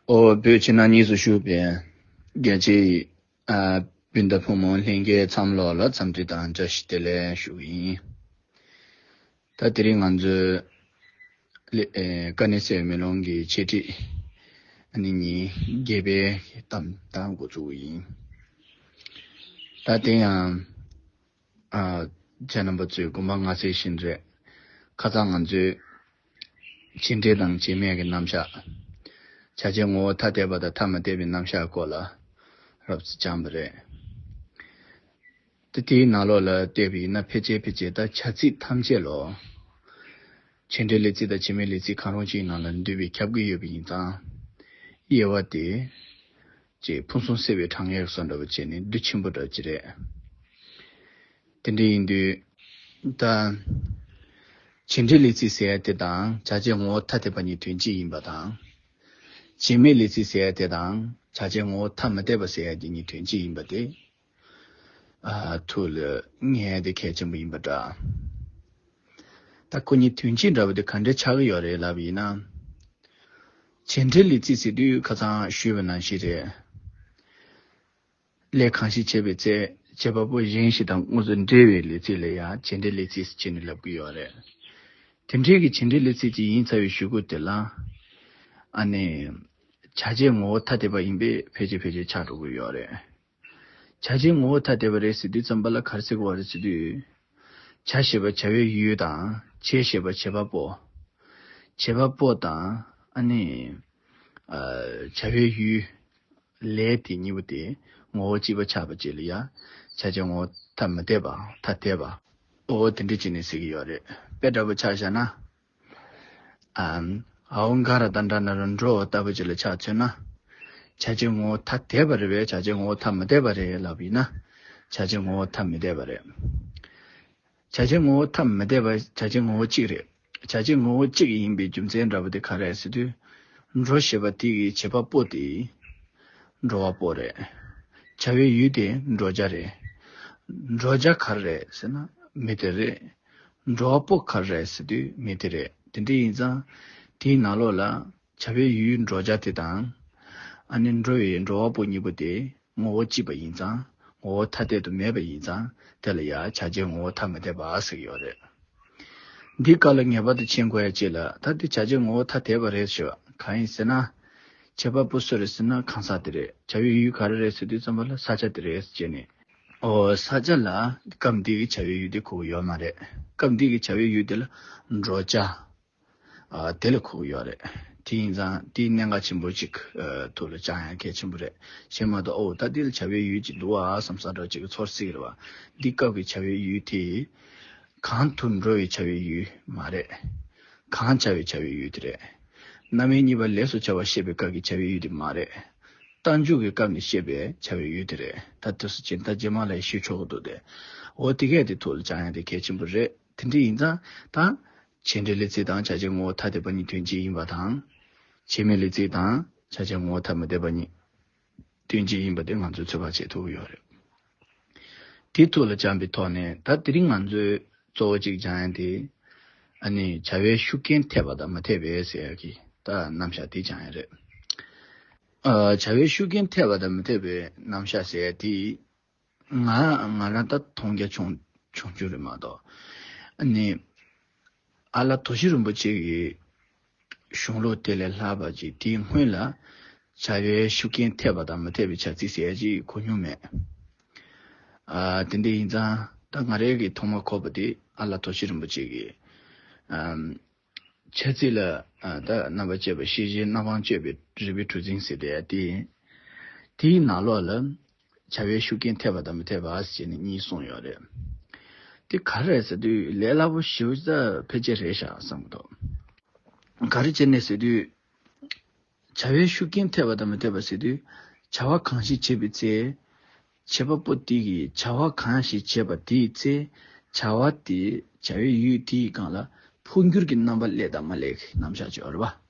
བོད་ཕྱི་ནང་གཉིས་སུ་བཞུགས་པའི་རྒྱལ་གཅེས་སྤུན་ཟླ་ཕོ་མོ་ལྷན་རྒྱས་མཚམས་ལོག་ལ་འཚམས་འདྲི་དང་བཀྲ་ཤིས་བདེ་ལེགས་ཞུ་གི་ཡིན། ད་དེ་རིང་ང་ཚོས་ཀ་ནི་སའི་མེ་ལོང་གི་འཆད་ཁྲིད་ནི་ཉིན་བརྒྱད་པའི་གཏམ་དང་འགོ་བཙུགས་ཡིན། ད་དེ་ཡང། ཨ། བྱ་རྣམ་པ་ཚོས་དགོན་པ་ང་ཟེར་བཞིན་རེད། ཁ་ཚ་ང་ཚོས། བྱས་འབྲས་དང་བྱས་མེད་ཀྱི་རྣམ་བཞག། བྱ་བྱེད་ངོ་བོ་ཐ་དད་པ་དང་ཐ་མ་དད་པའི་རྣམ་བཞག་སྐོར་ལ་རབ་བརྩི་སྦྱངས་པ་རེད། ད་དེའི་ནང་ལོགས་ལ་བལྟས་པ་ཡིན་ན་ཕལ་ཆེར་ཕལ་ཆེར་དང་བྱ་ཚིག་ཐམས་ཅད་ལོ། བྱས་འབྲས་ལས་ཚིག་དང་བྱས་མེད་ལས་ཚིག་གང་རུང་ཅིག་ནང་ལ་འདུས་པའི་ཁྱབ་ཀྱི་ཡོད་པ་ཡིན་ཙང། དབྱེ་བ་དེ། ཅེས་ཕུན་སུམ་གསལ་བའི་དྲང་ངེས་སུ་འགྲོ་བ་བཅས་ནི་བདུད་ཆེན་པོ་གྲགས་ཀྱི་རེད། དེ་འདྲ་ཡིན་དུས། ད། བྱེད་འབྲེལ་ལས་ཚིག་ཟེར་ཡ་དེ་དང་བྱ་བྱེད་ངོ་བོ་ཐ་དད་པ་གཉིས་དོན་གཅིག་ཡིན་པ་དང། བྱེད་མེད་ལས་ཚིག་ཟེར་ཡ་དེ་དང་བྱ་བྱེད་ངོ་བོ་ཐ་མི་དད་པ་ཟེར་ཡ་དེ་གཉིས་དོན་གཅིག་ཡིན་པ་དེ། ཐུགས་ལ་བརྔན་དེ་གལ་ཆེན་པོ་ཡིན་པ་འདྲ། ད་ཁོ་གཉིས་དོན་གཅིག་འདྲ་བ་དེ་ག་འདྲས་ཆགས་ཀྱི་ཡོད་རེད་ལབ་ཡིན་ན། བྱེད་འབྲེལ་ལས་རྩིས་ཟེར་དུས་ཁ་ཚང་ཞུས་པ་ནང་བཞིན་རེད། ལས་གང་ཞིག་བྱེད་པའི་ཚེ་བྱེད་པ་པོ་གཞན་ཞིག་དང་དངོས་སུ་འབྲེལ་བའི་ལས་རྩིས་ལ་ཡང་བྱེད་འབྲེལ་ལས་རྩིས་ཟེར་ནས་ལབ་ཀྱི་ཡོད་རེད། དེ་འཕྲལ་གྱི་བྱེད་འབྲེལ་ལས་རྩིས་ཅིག་ཡིན་ཚར་བའི་ཞུ་སྒོ་དེ་ལ། ཨ་ནེ། བྱ་བྱེད་ངོ་བོ་ཐ་དད་པ་ཡིན་པས་ཕལ་ཆེར་ཕལ་ཆེར་ཆགས་འགྲོ་གི་ཡོད་རེད། བྱ་བྱེད་ངོ་བོ་ཐ་དད་པ་རེད་ཟེར་དུས་རྩོམ་པ་ལ་གར་ཟེར་བ་རེད་ཟེར་དུས། བྱ་ཞེས་པ་བྱ་བའི་ཡུལ་ཡུལ་དང་བྱེད་ཞེས་པ་བྱེད་པ་པོ། བྱེད་པ་པོ་དང། ཨ་ནི། བྱ་བའི་ཡུལ། ལས་དེ་གཉིས་པོ་དེ་ངོ་བོ་གཅིག་པ་ཆགས་པ་བཅས་ལ་ཡང་བྱ་བྱེད་ངོ་བོ་ཐ་མི་དད་པའམ་ཐ་དད་པ། འོ་དེ་འདྲ་བྱས་ནས་ཟེར་གྱི་ཡོད་རེད་པས་འདྲ་པོ་ཆགས་བཞག་ན། ཨཱོྃ་མཁའ་ར་ཏཱན་ཏྲ་ནཱི་རཱ་འགྲོ་བ་ལྟ་བུ་ཅི་ལ་ཆགས་ཚུལ་ན། བྱ་བྱེད་ངོ་བོ་ཐ་དད་པ་རེད་བས་བྱ་བྱེད་ངོ་བོ་ཐ་མི་དད་པ་རེད་ལབ་པ་ཡིན་ན། བྱ་བྱེད་ངོ་བོ་ཐ་མི་དད་པ་རེད། བྱ་བྱེད་ངོ་བོ་ཐ་མི་དད་པ་བྱ་བྱེད་ངོ་བོ་གཅིག་རེད། བྱ་བྱེད་ངོ་བོ་གཅིག་ཡིན་པའི་རྒྱུ་མཚན་འདྲ་པོ་དེ་ག་རེད་ཟེར་དུས། འགྲོ་ཞེས་པ་དེ་གི་བྱེད་པ་པོ་དེ། འགྲོ་བ་པོ་རེད། བྱ་བའི་ཡུལ་དེ་འགྲོ་བྱ་རེད། འགྲོ་བྱ་ག་རེ་རེད་ཟེར་ན་མི་དེ་རེད། འགྲོ་བ་པོ་ག་རེད་ཟེར་དུས་མི་དེ་རེད་དེ་འདྲ་ཡིན་ཙང། དེའི་ནང་ལོགས་ལ། བྱ་བའི་ཡུལ་འགྲོ་བྱ་དེ་དང། ཨ་ནེ་འགྲོ་བའི་འགྲོ་བ་པོ་གཉིས་པོ་དེ་ངོ་བོ་གཅིག་པ་ཡིན་ཙང་ངོ་བོ་ཐ་དད་དུ་མེད་པ་ཡིན་ཙང་དེ་ལ་ཡང་བྱ་བྱའི་ངོ་བོ་ཐ་མི་དད་པ་ཟེར་གྱི་ཡོད་རེད། འདིའི་སྐབས་ལ་ངེས་པར་དུ་མཁྱེན་དགོས་ཡ་ཅེས་ལ་ད་ལྟའི་བྱ་བྱའི་ངོ་བོ་ཐ་དད་པ་རེད་ཟེར་བ་གང་ཡིན་ཟེར་ན། བྱེད་པ་པོ་སུ་རེད་ཟེར་ན་གང་ཟག་དེ་རེད་བྱ་བའི་ཡུལ་ག་རེ་རེད་ཟེར་དུས་རྩོམ་པ་ལ་ས་ཆ་དེ་རེད་ཟེར་ནས། ས་ཆ་ལ་སྐབས་འདི་གི་བྱ་བའི་ཡུལ་དེ་ཁོག་ཡོད་མ་རེད། སྐབས་འདི་གི་བྱ་བའི་ཡུལ་དེ་ལ་འགྲོ་བྱ་དེ་ལ་ཁོག་ཡོད་རེད། དེ་ཡིན་ཙང་དེའི་གནད་འགག་ཆེན་པོ་གཅིག་ཐུགས་ལ་བཅངས་ཡང་གལ་ཆེན་པོ་རེད། ཞེས་མ་གཏོགས་ཨོའོ་ད་དེ་ལ་བྱ་བའི་ཡུལ་གཅིག་འདུག་ཨ་ཨ་བསམ་ས་འདྲ་གཅིག་གི་ཚོར་སྲེག་རེད་བ། འདི་སྐབས་ཀྱི་བྱ་བའི་ཡུལ་དེ། གང་དུ་འགྲོ་བའི་བྱ་བའི་ཡུལ་མ་རེད། གང་བྱ་བའི་བྱ་བའི་ཡུལ་དེ་རེད། རྣམ་དབྱེ་གཉིས་པ་ལས་སུ་བྱ་བ་ཤེས་པའི་སྐབས་ཀྱི་བྱ་བའི་ཡུལ་དེ་མ་རེད། རྟ་མཇུག་གི་སྐབས་ནས་བཤད་པའི་བྱ་བའི་ཡུལ་དེ་རེད་ད་དུས་སུ་སྤྱིར་མཐའ་རྗེས་མ་ལས་ཤེས་ཆོག་གི་འདུག་སྟེ། འོ་དེ་གས་དེ་ཐུགས་ལ་བཅངས་ཡང་དེ་གལ་ཆེན་པོ་རེད་དེ་འདྲ་ཡིན་ཙང་ད། བྱེད་འབྲེལ་ལས་ཚིག་དང་བྱ་བྱེད་ངོ་བོ་ཐ་དད་པ་གཉིས་དོན་གཅིག་ཡིན་པ་དང། བྱེད་མེད་ལས་ཚིག་དང་བྱ་བྱེད་ངོ་བོ་ཐ་མི་དད་པ་གཉིས་དོན་གཅིག་ཡིན་པ་དེ་ང་ཚོས་ཚོད་དཔག་བྱེད་ཐུབ་ཀྱི་ཡོད་རེད། དེ་ཐུགས་ལ་བཅངས་པའི་ཐོག་ནས་ད་དེ་རིང་ང་ཚོས་གཙོ་བོ་གཅིག་སྦྱང་ཡང་དེ། ཨ་ནི་བྱ་བའི་ཤུགས་རྐྱེན་ཐེབས་པ་དང་མ་ཐེབས་པའི་ཟེར་ཡག་གི་ད་རྣམ་གཞག་དེ་སྦྱང་ཡང་རེད། བྱ་བའི་ཤུགས་རྐྱེན་ཐེབས་པ་དང་མ་ཐེབས་པའི་རྣམ་གཞག་ཟེར་ཡག་དེ། ང་ང་རང་ད་མཐོང་རྒྱ་ཆུང་ཆུང་རེད་མ་གཏོགས། ཨ་ནི། ཨ་ལ་དོ་ཤི་རིན་པོ་ཆེ་གི་གཞུང་ལུགས་དེ་ལས་སླ་བ་ཅིག་དེའི་སྔོན་ལ་བྱ་བའི་ཤུགས་རྐྱེན་ཐེབས་པ་དང་མི་ཐེབས་པའི་བྱ་ཚིག་གསལ་བྱེད་ཀྱི་གོ་མྱོང་མེད། དེ་འདི་ཡིན་ཙང་ད་ང་རེ་གིས་ཐོག་མར་གོ་བ་དེ་ཨ་ལ་དོ་ཤི་རིན་པོ་ཆེ་གི་བྱ་ཚིག་ལ་ད་རྣམ་པར་དཔྱད་པ་ཤེས་བྱའི་རྣམ་དབང་སྤྱོད་པའི་རིགས་པའི་གྲུ་རྫིང་ཟེར་དེ་ཡང་དེ་ཡིན། དེའི་ནང་ལོགས་ལ་བྱ་བའི་ཤུགས་རྐྱེན་ཐེབས་པ་དང་མི་ཐེབས་པ་ཞེས་ནི་གཉིས་གསུངས་ཡོད་རེད། དེ་ག་རེད་ཟེར་དུས་ལས་སླ་པོ་ཞིག་བྱེད་ས་ཕལ་ཆེར་རེད་ཤག་བསམ་གི་འདུག་ག་རེ་བྱེད་ནས་ཟེར་དུས། བྱ་བའི་ཤུགས་རྐྱེན་ཐེབས་པ་དང་མི་ཐེབས་པ་ཟེར་དུས་བྱ་བ་གང་ཞིག་བྱེད་པའི་ཚེ། བྱེད་པ་པོ་དེ་གིས་བྱ་བ་གང་ཞིག་བྱེད་པ་དེའི་ཚེ། བྱ་བ་དེས་བྱ་བའི་ཡུལ་དེའི་སྒང་ལ་འཕོ་འགྱུར་གྱི་རྣམ་པ་ལེགས་དང་མ་ལེགས་ནམ་བཞག་བྱེད་པ་རེད་པ།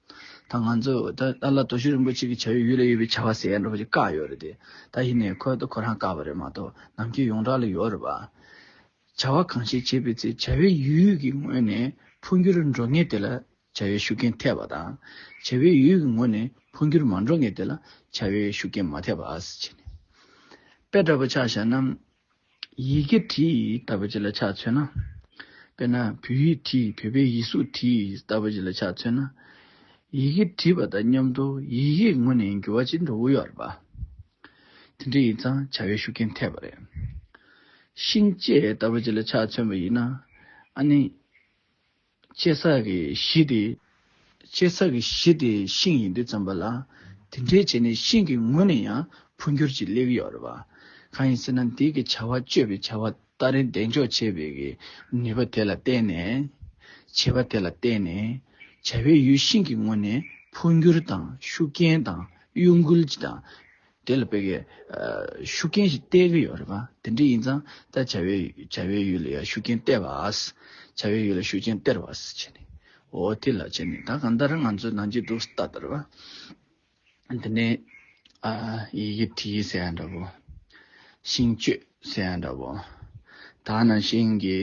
ད་ང་ཚོས་ད་ཨ་ལ་དོ་ཤུགས་རིན་པོ་ཆེ་གིས་བྱ་ཡུལ་ཡུལ་ལ་ཡོད་པའི་བྱ་བ་ཟེར་ཡ་འགྲོ་བ་ཅིག་བཀག་ཡོད་རེད་དེ། ད་ཧི་ནས་ཁོལ་དུ་ཁོ་རང་བཀག་པ་རེད་མ་གཏོགས་ནམ་ཁྱེད་ཡོངས་གྲགས་ལ་ཡོད་རེད་བ། བྱ་བ་གང་ཞིག་བྱེད་པའི་ཚེ་བྱ་བའི་ཡུལ་ཡུལ་གྱི་ངོས་ནས་འཕོ་འགྱུར་འགྲོ་ངེས་དེ་ལ་བྱ་བའི་ཤུགས་རྐྱེན་ཐེབས་པ་དང། བྱ་བའི་ཡུལ་ཡུལ་གྱི་ངོས་ནས་འཕོ་འགྱུར་མ་འགྲོ་ངེས་དེ་ལ་བྱ་བའི་ཤུགས་རྐྱེན་མ་ཐེབས་པ། དཔེ་འདྲ་པོ་ཆགས་བཞག་ན། ཡི་གེ་བྲིས་ལྟ་བུ་ཅིག་ལ་ཆ་མཚོན་ན། དཔེར་ན་བོད་ཡིག་བྲིས་བོད་པའི་ཡིག་གཟུགས་བྲིས་ལྟ་བུ་ཅིག་ལ་ཆ་མཚོན་ན། ཡི་གེ་བྲིས་པ་དང་མཉམ་དུ་ཡི་གེའི་ངོས་ནས་འགྱུར་བ་ཅི་འགྲོ་བོ་ཡོད་རེད་པ། དེ་འདྲ་ཡིན་ཙང་བྱ་བའི་ཤུགས་རྐྱེན་ཐེབས་པ་རེད། ཤིང་བཅད་ལྟ་བུ་ཅིག་ལ་ཆ་མཚོན་པ་ཡིན་ན། ཨ་ནི། ལྕེ་ས་གི་གཞི་དེ། ལྕེ་ས་གི་གཞི་དེ་ཤིང་ཡིན་དུས་ཙམ་པ་ལ། དེ་འདྲའི་བྱས་ནས་ཤིང་གི་ངོས་ནས་ཡང་འཕོ་འགྱུར་གྱི་ལེགས་ཡོད་རེད་པ། གང་ཡིན་ཟེར་ན་འདིའི་གི་བྱ་བ་སྤྱོད་པའི་བྱ་བ་སྟ་རེ་འདེགས་འཇོག་བྱེད་པའི་གི་ནུས་པ་དེ་ལ་བརྟེན་ནས། བྱེད་པ་དེ་ལ་བརྟེན་ནས། བྱ་བའི་ཡུལ་ཤིང་གི་ངོས་ནས་འཕོ་འགྱུར་དང་ཤུགས་རྐྱེན་དང་གཡོ་འགུལ་གྱི་དང། དེ་ལ་བོད་ཀྱི་ཤུགས་རྐྱེན་ཞིག་གཏད་ཀྱི་ཡོད་རེད་བ། དེ་འདྲ་ཡིན་ཙང་ད་བྱ་བའི་བྱ་བའི་ཡུལ་ལ་ཡང་ཤུགས་རྐྱེན་གཏད་བས། བྱ་བའི་ཡུལ་ལ་ཤུགས་རྐྱེན་སྟེར་བས་བྱས་ནས། འོ་དེ་ལ་བྱས་ནས་ད་གང་ལྟར་ང་ཚོས་གནང་གྱི་འདུག་ས་ད་ལྟར་བ། དེ་ནས་ཡི་གེ་བྲིས་ཟེར་ཡང་འདྲ་བོ། ཤིང་གཅོད་ཟེར་ཡང་འདྲ་བོ། ད་ནང་བཞིན་གྱི།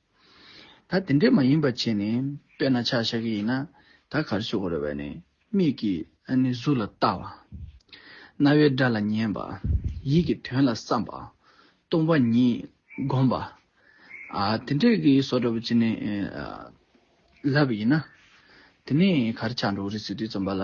ད་དེ་འདྲས་མ་ཡིན་པ་བྱས་ནས་དཔེར་ན་ཆག་ཤ་གི་ཡིན་ན་ད་གར་ཤོག་གོ་རེ་བས་ནས་མིག་གིས་ཨ་ནི་གཟུགས་ལ་བལྟ་བ། རྣ་བའི་སྒྲ་ལ་ཉན་པ། ཡིད་ཀྱིས་དོན་ལ་བསམ་པ། སྟོང་པ་ཉིད་བསྒོམ་པ། དེ་འདྲས་ཀྱི་སོགས་འདྲ་པོ་བྱས་ནས་ལབ་ཡིན་ན་དེ་ནས་གར་ཆག་འགྲོ་གི་རེད་ཟེར་དུས་རྩོམ་པ་ལ་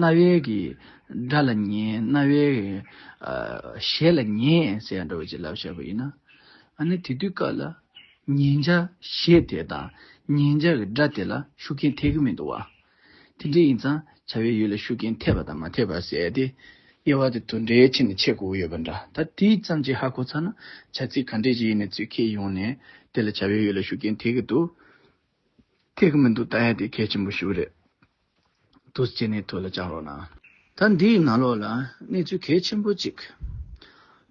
རྣ་བའི་སྒྲ་ལ་ཉན། རྣ་བའི་ཞལ་ལ་ཉན་ཟེར་ཡང་འདྲ་བའི་བྱིན་རླབས་བྱ་བ་ཡིན། ཨ་ནི་དེ་དུས་སྐབས་ལ། ཉན་བྱ་ཞེས་དེ་དང་ཉན་བྱ་གི་སྒྲ་དེ་ལ་ཤུགས་རྐྱེན་ཐེབས་ཀྱི་མི་འདུག་བ། དེ་འདྲ་ཡིན་ཙང་བྱ་བའི་ཡུལ་ལ་ཤུགས་རྐྱེན་ཐེབས་པ་དང་མ་ཐེབས་པར་ཟད་དེ། དབྱེ་བ་དེ་དོན་འདྲའི་ཆེད་ནས་འཆད་དགོས་ཡོད་པ་འདྲ་ད་དེ་ཙམ་གྱིས་ཧ་གོ་ཚར་ན་བྱ་ཚིག་ག་འདྲས་ཀྱི་ཡིན་ནས་ཚུལ་ཁས་ཡོང་ནས་དེ་ལ་བྱ་བའི་ཡུལ་ལ་ཤུགས་རྐྱེན་ཐེབས་ཀྱི་འདུག་ཐེབས་ཀྱི་མི་འདུག་ད་ཡང་དེ་གལ་ཆེན་པོ་ཞིག་རེད། དུ་སྐྱེས་ནས་དུས་ལ་བཅངས་རོགས་གནང། ད་འདིའི་ནང་ལོགས་ལ་གནས་ཚུལ་གལ་ཆེན་པོ་གཅིག་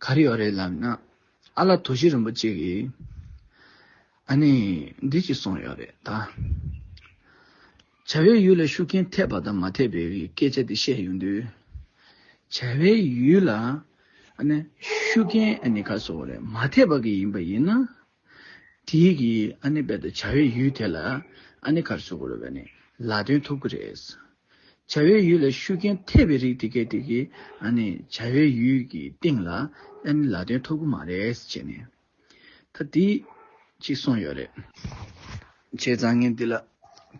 ག་རེ་ཡོད་རེད་ལབ་ན། ཨ་ལ་དོ་བཞི་རིན་པོ་ཆེ་གིས་ཨ་ནི་འདི་གཅིག་གསུངས་ཡོད་རེད་ད། བྱ་བའི་ཡུལ་ལ་ཤུགས་རྐྱེན་ཐེབས་པ་དང་མ་ཐེབས་པའི་སྐད་ཆ་དེ་བཤད་ཡོང་དུས། བྱ་བའི་ཡུལ་ལ་ཤུགས་རྐྱེན་ག་ཚོད་རེད་མ་ཐེབས་པ་གི་ཡིན་པ་ཡིན་ན་དེ་ཡིག་གིས་ཨ་ནེ་རྦད་དེ་བྱ་བའི་ཡུལ་དེ་ལ་ཨ་ནེ་གར་བཟོ་དགོས་རེད་བས་ནི་ལ་སྟོན་ཐུབ་ཀྱི་རེད། བྱ་བའི་ཡུལ་ལ་ཤུགས་རྐྱེན་ཐེབས་པའི་རིགས་དེ་གའི་དེ་གིས་ཨ་ནེ་བྱ་བའི་ཡུལ་གྱི་སྟེང་ལ་ཨ་ནེ་ལ་སྟོན་ཐུབ་ཀྱི་མ་རེད་ཅེས་ནི་ད་དེ་གཅིག་གསུངས་ཡོད་རེད། བྱས་ཙང་ངས་འདི་ལ་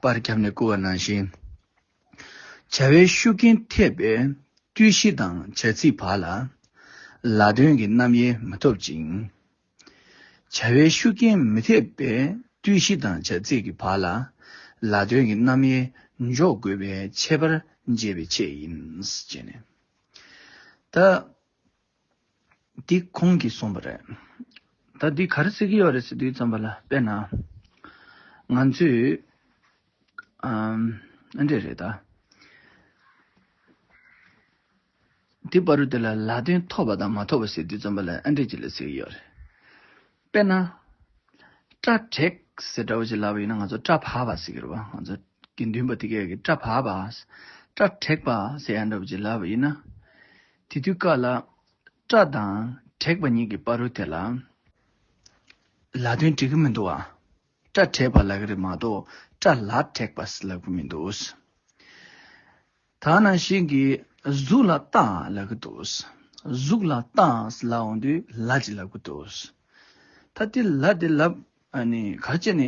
པར་བརྒྱབ་ནས་བསྐུར་བ་ནང་བཞིན། བྱ་བའི་ཤུགས་རྐྱེན་ཐེབས་པའི་རྟུལ་ཞི་དང་བྱ་ཚིག་བར་ལ་ལ་སྟོན་གྱི་རྣམ་དབྱེ་མི་ཐོབ་ཅིང། བྱ་བའི་ཤུགས་རྐྱེན་མི་ཐེབས་པའི་བརྟུལ་གཞི་དང་བྱ་ཚིག་གི་བག་ལ་ལ་དོན་གྱི་རྣམ་དབྱེ་འཇོག་དགོས་པའི་ཁྱད་པར་འབྱེད་པའི་ཆེད་ཡིན། ད་འདི་ཁོང་གིས་གསུངས་པ་རེད། ད་འདི་ག་རེ་ཟེར་གྱི་ཡོད་རེད་ཟེར་དུས་ཙམ་པ་ལ་དཔེར་ན། ང་ཚོས་ཨ་འདྲས་རེད་ད། དེ་པར་དེ་ལ་ལ་དོན་ཐོབ་པ་དང་མ་ཐོབ་པ་ཟེར་དུས་རྩོམ་པ་ལ་ཨ་འགྲིག་ཅིག་ལ་ཟེར་གྱི་ཡོད་རེད། དཔེར་ན། སྐྲ་བྲེག་ཟེར་འདྲ་བོ་ཅིག་ལབ་པ་ཡིན་ན་ང་ཚོ་སྐྲ་བག་པ་ཟེར་གྱི་རེད་བ། ང་ཚོ་དགེ་འདུན་པ་དེ་གས་ཀྱི་སྐྲ་བག་པ། སྐྲ་བྲེག་པ་ཟེར་ཡག་འདྲ་བོ་ཅིག་ལབ་པ་ཡིན་ན། དེ་དུས་ཀ་ལ་སྐྲ་དང་བྲེག་པ་གཉིས་ཀྱི་པར་རུ་དེ་ལ་ལ་དོན་འགྲིག་གི་མི་འདུག་བ། སྐྲ་བྲེག་པ་ལབ་གི་རེད་མ་གཏོགས་སྐྲ་ལ་བྲེག་པ་ཟེར་ལབ་གི་མི་འདུག། ད་ནང་བཞིན་གྱི་གཟུགས་ལ་ལྟ་ལབ་ཀྱི་འདུག་གཟུགས་ལ་ལྟ་ལབ་འོང་དུས་ལ་ཅིག་ལབ་ཀྱི་འདུག་ད་དེ་ལ་དེ་ལབ་ནི་ག་ཅེ་ནི་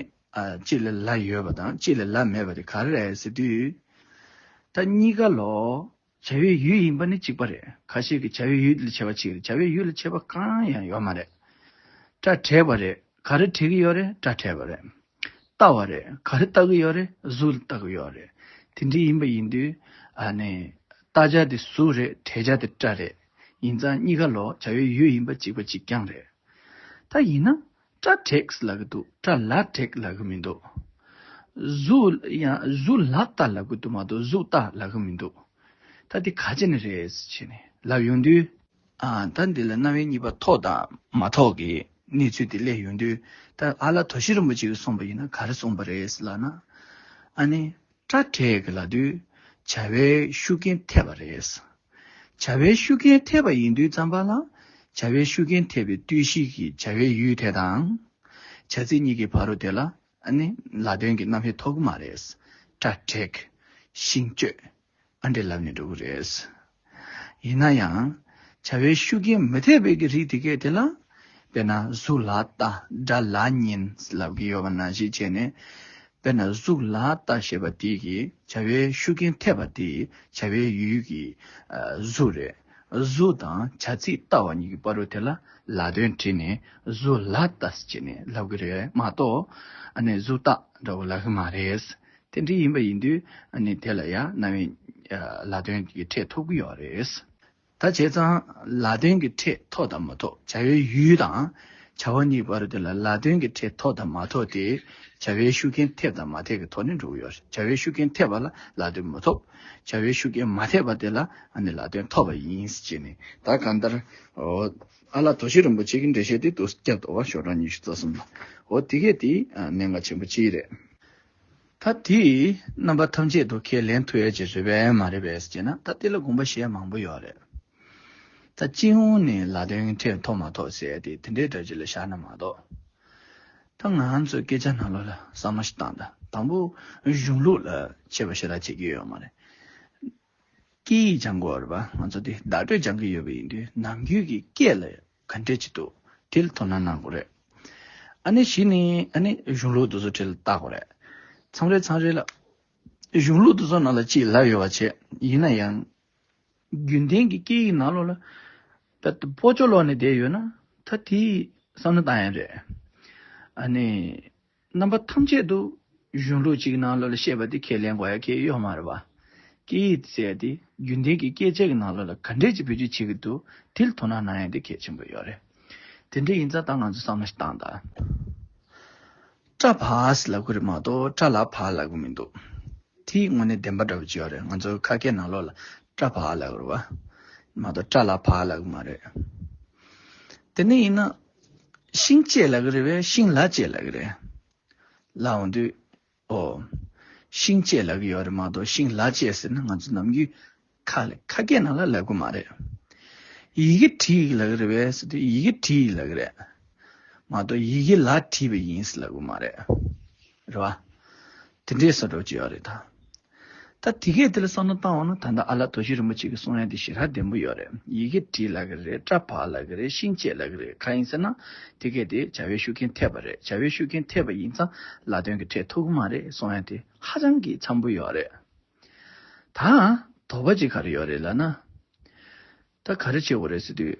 གཅིག་ལ་ལ་ཡོད་པ་དང་གཅིག་ལ་ལ་མེད་པ་དེ་ག་རེ་རེད་ཟེར་དུས། ད་གཉིས་ཀ་ལོ། བྱ་བའི་ཡུལ་ཡིན་པ་ནི་གཅིག་པ་རེད་ཁ་ཤས་ཀྱིས་བྱ་བའི་ཡུལ་ལ་བྱེད་པ་ཆིག་རེད་བྱ་བའི་ཡུལ་ལ་བྱེད་པ་གང་ཡང་ཡོད་མ་རེད། སྐྲ་བྲེགས་པ་རེད་ག་རེ་བྲེགས་ཀྱི་ཡོད་རེད་སྐྲ་བྲེགས་པ་རེད། བལྟ་བ་རེད། ག་རེ་བལྟ་གི་ཡོད་རེད། གཟུགས་ལ་བལྟ་གི་ཡོད་རེད། དེ་འདྲའི་ཡིན་པ་ཡིན་དུས། བལྟ་བྱ་དེ་གཟུགས་རེད་དྲན་བྱ་དེ་སྐྲ་རེད། ཡིན་ཙང་གཉིས་ཀ་ལོག་བྱ་ཡོད་ཡོད་ཡིན་པ་གཅིག་པ་གཅིག་རྐྱང་རེད། ད་ཡིན་ན། སྐྲ་བྲེགས་ལ་གི་འདུག་སྐྲ་ལ་བྲེགས་ལ་གི་མི་འདུག། གཟུགས། ཡང་གཟུགས་ལ་བལྟ་ལ་གི་འདུག་མ་གཏོགས་གཟུགས་བལྟ་ལ་གི་མི་འདུག། ད་དེ་ག་ཅེ་ནི་རེད་ཟེར་བྱས་ནས་ལབ་ཡོང་དུས། ད་འདི་ལ་རྣ་བའི་གཉིས་པ་ཐོག་དང་མ་ཐོག་གི་གནས་ཚུལ་དེ་གླས་ཡོང་དུས་ད་ཨ་ལ་དོ་ཤི་རིན་པོ་ཆེ་གིས་གསུངས་པ་ཡིན་ན་ག་རེ་གསུངས་པ་རེད་ལགས་ན། ཨ་ནི། སྐྲ་བྲེགས་གི་ལ་དུས་བྱ་བའི་ཤུགས་རྐྱེན་ཐེབས་པ་རེད། བྱ་བའི་ཤུགས་རྐྱེན་ཐེབས་པ་ཡིན་དུས་རྩམ་པ་ལ་བྱ་བའི་ཤུགས་རྐྱེན་ཐེབས་པའི་དུས་ཤིག་གི་བྱ་བའི་ཡུལ་དེ་དང། བྱ་ཚིག་གཉིས་ཀྱི་བར་རོ་དེ་ལ་ཨ་ནི་ལ་དོན་གྱི་རྣམ་དབྱེ་ཐོག་གི་མ་རེད། སྐྲ་བྲེགས། ཤིང་གཅོད། ཨ་འདྲེ་ལབ་ནས་འགྲོ་གི་རེད། ཡིན་ན་ཡང། བྱ་བའི་ཤུགས་རྐྱེན་མི་ཐེབས་པའི་གི་རིགས་དེ་གས་དེ་ལ། དཔེར་ན་གཟུགས་ལ་ལྟ་སྒྲ་ལ་ཉན་ལབ་གི་ཡོད་པ་ན་ཞིག་བྱས་ནས། དཔེར་ན་གཟུགས་ལ་ལྟ་ཞེས་པ་དེ་གི་བྱ་བའི་ཤུགས་རྐྱེན་ཐེབས་པ་དེ་བྱ་བའི་ཡུལ་གི་གཟུགས་རེད། གཟུགས་དང་བྱ་ཚིག་ལྟ་བ་གཉིས་ཀྱི་བར་རུ་དེ་ལ་ལ་དོན་དྲིས་ནས་གཟུགས་ལ་ལྟ་ཞེས་ནས་ལབ་གི་རེད་མ་གཏོགས། ཨ་ནི་གཟུགས་ལྟ་འདྲ་བོ་ལབ་གི་མ་རེད། དེ་འདྲ་ཡིན་པ་ཡིན་དུས་ཨ་ནི་དེ་ལ་ཡང་གནའ་བའི་ལ་དོན་གྱི་ཁྲེས་ཐོབ་ཀྱི་ཡོད་རེད། ད་བྱས་ཙང་ལ་དོན་གྱི་ཁྲེས་ཐོག་དང་མ་ཐོག་བྱ་བའི་ཡུལ་དང་བྱ་བ་གཉིས་བར་དེ་ལ་ལ་དོན་གྱི་ཁྲེས་ཐོག་དང་མ་ཐོག་དེ་བྱ་བའི་ཤུགས་རྐྱེན་ཐེབས་དང་མ་ཐེབས་ཀྱི་ཐོག་ནས་འགྲོ་གི་ཡོད་རེད་བྱ་བའི་ཤུགས་རྐྱེན་ཐེབས་པ་ལ་ལ་དོན་མི་ཐོབ། བྱ་བའི་ཤུགས་རྐྱེན་མ་ཐེབས་པ་དེ་ལ་ཨ་ནི་ལ་དོན་ཐོབ་པ་ཡིན་ཅེས་ནི་ད་གང་ལྟར་འོ་ཨ་ལ་དོ་ཤེས་རིན་པོ་ཆེ་གི་འགྲེལ་བཤད་དེ་དུ་སྐྱབས་རྡོ་བ་ཞོ་སྦྲང་ཉི་ཤུ་རྩ་གསུམ་ལ་འོ་དེ་གས་དེའི་གནད་འགག་ཆེན་པོ་ཅི་རེད། ད་དེས་རྣམ་པ་ཐམས་ཅད་དུ་ཁས་ལེན་ཐུ་ཡོད་ཅེས་བཟོས་པས་མ་རེད་པས་ཅེ་ན་ད་དེ་ལ་དགོངས་པ་གཞན་མང་པོ་ཡོད་རེད། ད་སྤྱི་ཡོངས་ནས་ལ་དོན་ཕྲད་མཐོ་མ་མཐོ་ཟེར་ཏེ་དེ་འདྲའི་སྒྲ་སྤྱི་ལ་བཞག་ན་མ་གཏོགས། ད་ང་ཚོས་སྐད་ཆ་ནང་ལོགས་ལ་གསར་མ་ཞིག་བཏང་ད་དང་པོ་གཞུང་ལུགས་ལ་ཆེ་བ་ཞེ་དྲག་བྱེད་ཀྱི་ཡོད་མ་རེད། སྐད་ཡིག་སྦྱང་དགོས་རེད་པ་ང་ཚོ་དེ་བདག་སྤྲོད་སྦྱང་གི་ཡོད་པ་ཡིན་དུས་ནམ་རྒྱུན་གྱི་སྐད་ལ་ག་འདྲས་ཀྱི་འདུག་དེ་ལ་དོ་སྣང་གནང་དགོས་རེད། ཨ་ནི་བཞི་ནི་ཨ་ནི་གཞུང་ལུགས་དུ་བཟོ་ཁྲིད་ལ་བལྟ་དགོས་རེད། མཚམས་རེ་མཚམས་རེ་ལ། གཞུང་ལུགས་དུ་བཟོ་ནང་ལ་ཅིས་ལབ་ཡོད་བ་བྱས་ཡིན་ན་ཡང། རྒྱུན་ལྡན་གྱི་སྐད་ཡིག་ནང་ལོགས་ལ། ད་ལྟ་བོད་ཆོ་ལོག་ནས་བསྡད་ཡོད་ན་ད་དེའི་བསམ་བློ་བཏང་ཡ་རེད། ཨ་ནི། རྣམ་པ་ཐམས་ཅད་དུ་གཞུང་ལུགས་གཅིག་ནང་ལོགས་ལ་བཤད་པ་དེ་ཁས་ལེན་དགོས་ཡ་ཁྱེད་གཡོག་མ་རེད་པ། སྐད་ཡིག་དེ་བཙལ་ཏེ་རྒྱུན་ལྡན་གྱི་སྐད་ཆ་གི་ནང་ལོགས་ལ་ག་འདྲས་ཀྱི་བེད་སྤྱོད་བྱེད་ཀྱི་འདུག་དེ་ལ་དོ་སྣང་གནང་ཡ་དེ་གལ་ཆེན་པོ་ཡོད་རེད། དེ་འདྲས་ཡིན་ཙང་ད་ང་ཚོས་བསམ་བློ་ཞིག་བཏང་ད། སྐྲ་བགས་ལབ་གི་རེད་མ་གཏོགས་སྐྲ་ལ་བགས་ལབ་གི་མི་འདུག། དེ་ཡིག་དངོས་གནས་བདེན་པ་འདྲ་བོ་ཅི་ཡོད་རེད་ང་ཚོ་ཁ་སྐད་ནང་ལོགས་ལ་སྐྲ་བགས་ལབ་གི་རེད་བ། མ་གཏོགས་སྐྲ་ལ་བགས་ལབ་གི་མ་རེད། དེ་འདྲས་ཡིན་ན། ཤིང་བཅད་ལ་ཀྱི་རེད་བས་ཤིང་ལ་བཅད་ལ་ཀྱི་རེད། ལའང་འདུས། ཨོ། ཤིང་བཅད་ལ་ཀྱི་ཡོད་རེད་མ་གཏོགས་ཤིང་ལ་བཅད་ཟེར་ན་ང་ཚོ་ནམ་རྒྱུན་ཁ་ལས་ཁ་སྐད་ནང་ལ་ལབ་གི་མ་རེད། ཡི་གེ་བྲིས་ཡིག་ལ་ཀྱི་རེད་བས་ཟེར་དུས་ཡི་གེ་བྲིས་ཡིག་ལ་ཀྱི་རེད། མ་གཏོགས་ཡི་གེ་ལ་བྲིས་པ་ཡིན་ཟེར་ལབ་གི་མ་རེད། རེད་བ། དེ་འདྲའི་ས་གྲོགས་ཅིག་ཡོད་རེད་ད། ད་དེ་གས་དེ་ལ་བསམ་བློ་བཏང་བ་ན་ད་ལྟ་ཨ་ལགས་དོ་ཤི་རིན་པོ་ཆེ་གིས་གསུང་ཡ་དེ་ཤི་ར་བདེན་པོ་ཡོད་རེད་ཡི་གེ་བྲིས་ལ་གི་རེད་སྐྲ་བག་ལ་གི་རེད་ཤིང་བཅད་ལ་གི་རེད་ག་ཡིན་ཟེར་ན་དེ་གས་དེ་བྱ་བའི་ཤུགས་རྐྱེན་ཐེབས་པ་རེད་བྱ་བའི་ཤུགས་རྐྱེན་ཐེབས་པ་ཡིན་ཙང་ལ་དོན་གི་ཁྲེལ་ཐུག་གི་མ་རེད་གསུང་ཡ་དེ་ཧ་ཅང་གི་འཚམས་པོ་ཡོད་རེད། ད། དོགས་པ་ཅིག་ག་རེ་ཡོད་རེད་ལ་ན། ད་ག་རེ་བྱེད་དགོས་རེད་ཟེར་དུས།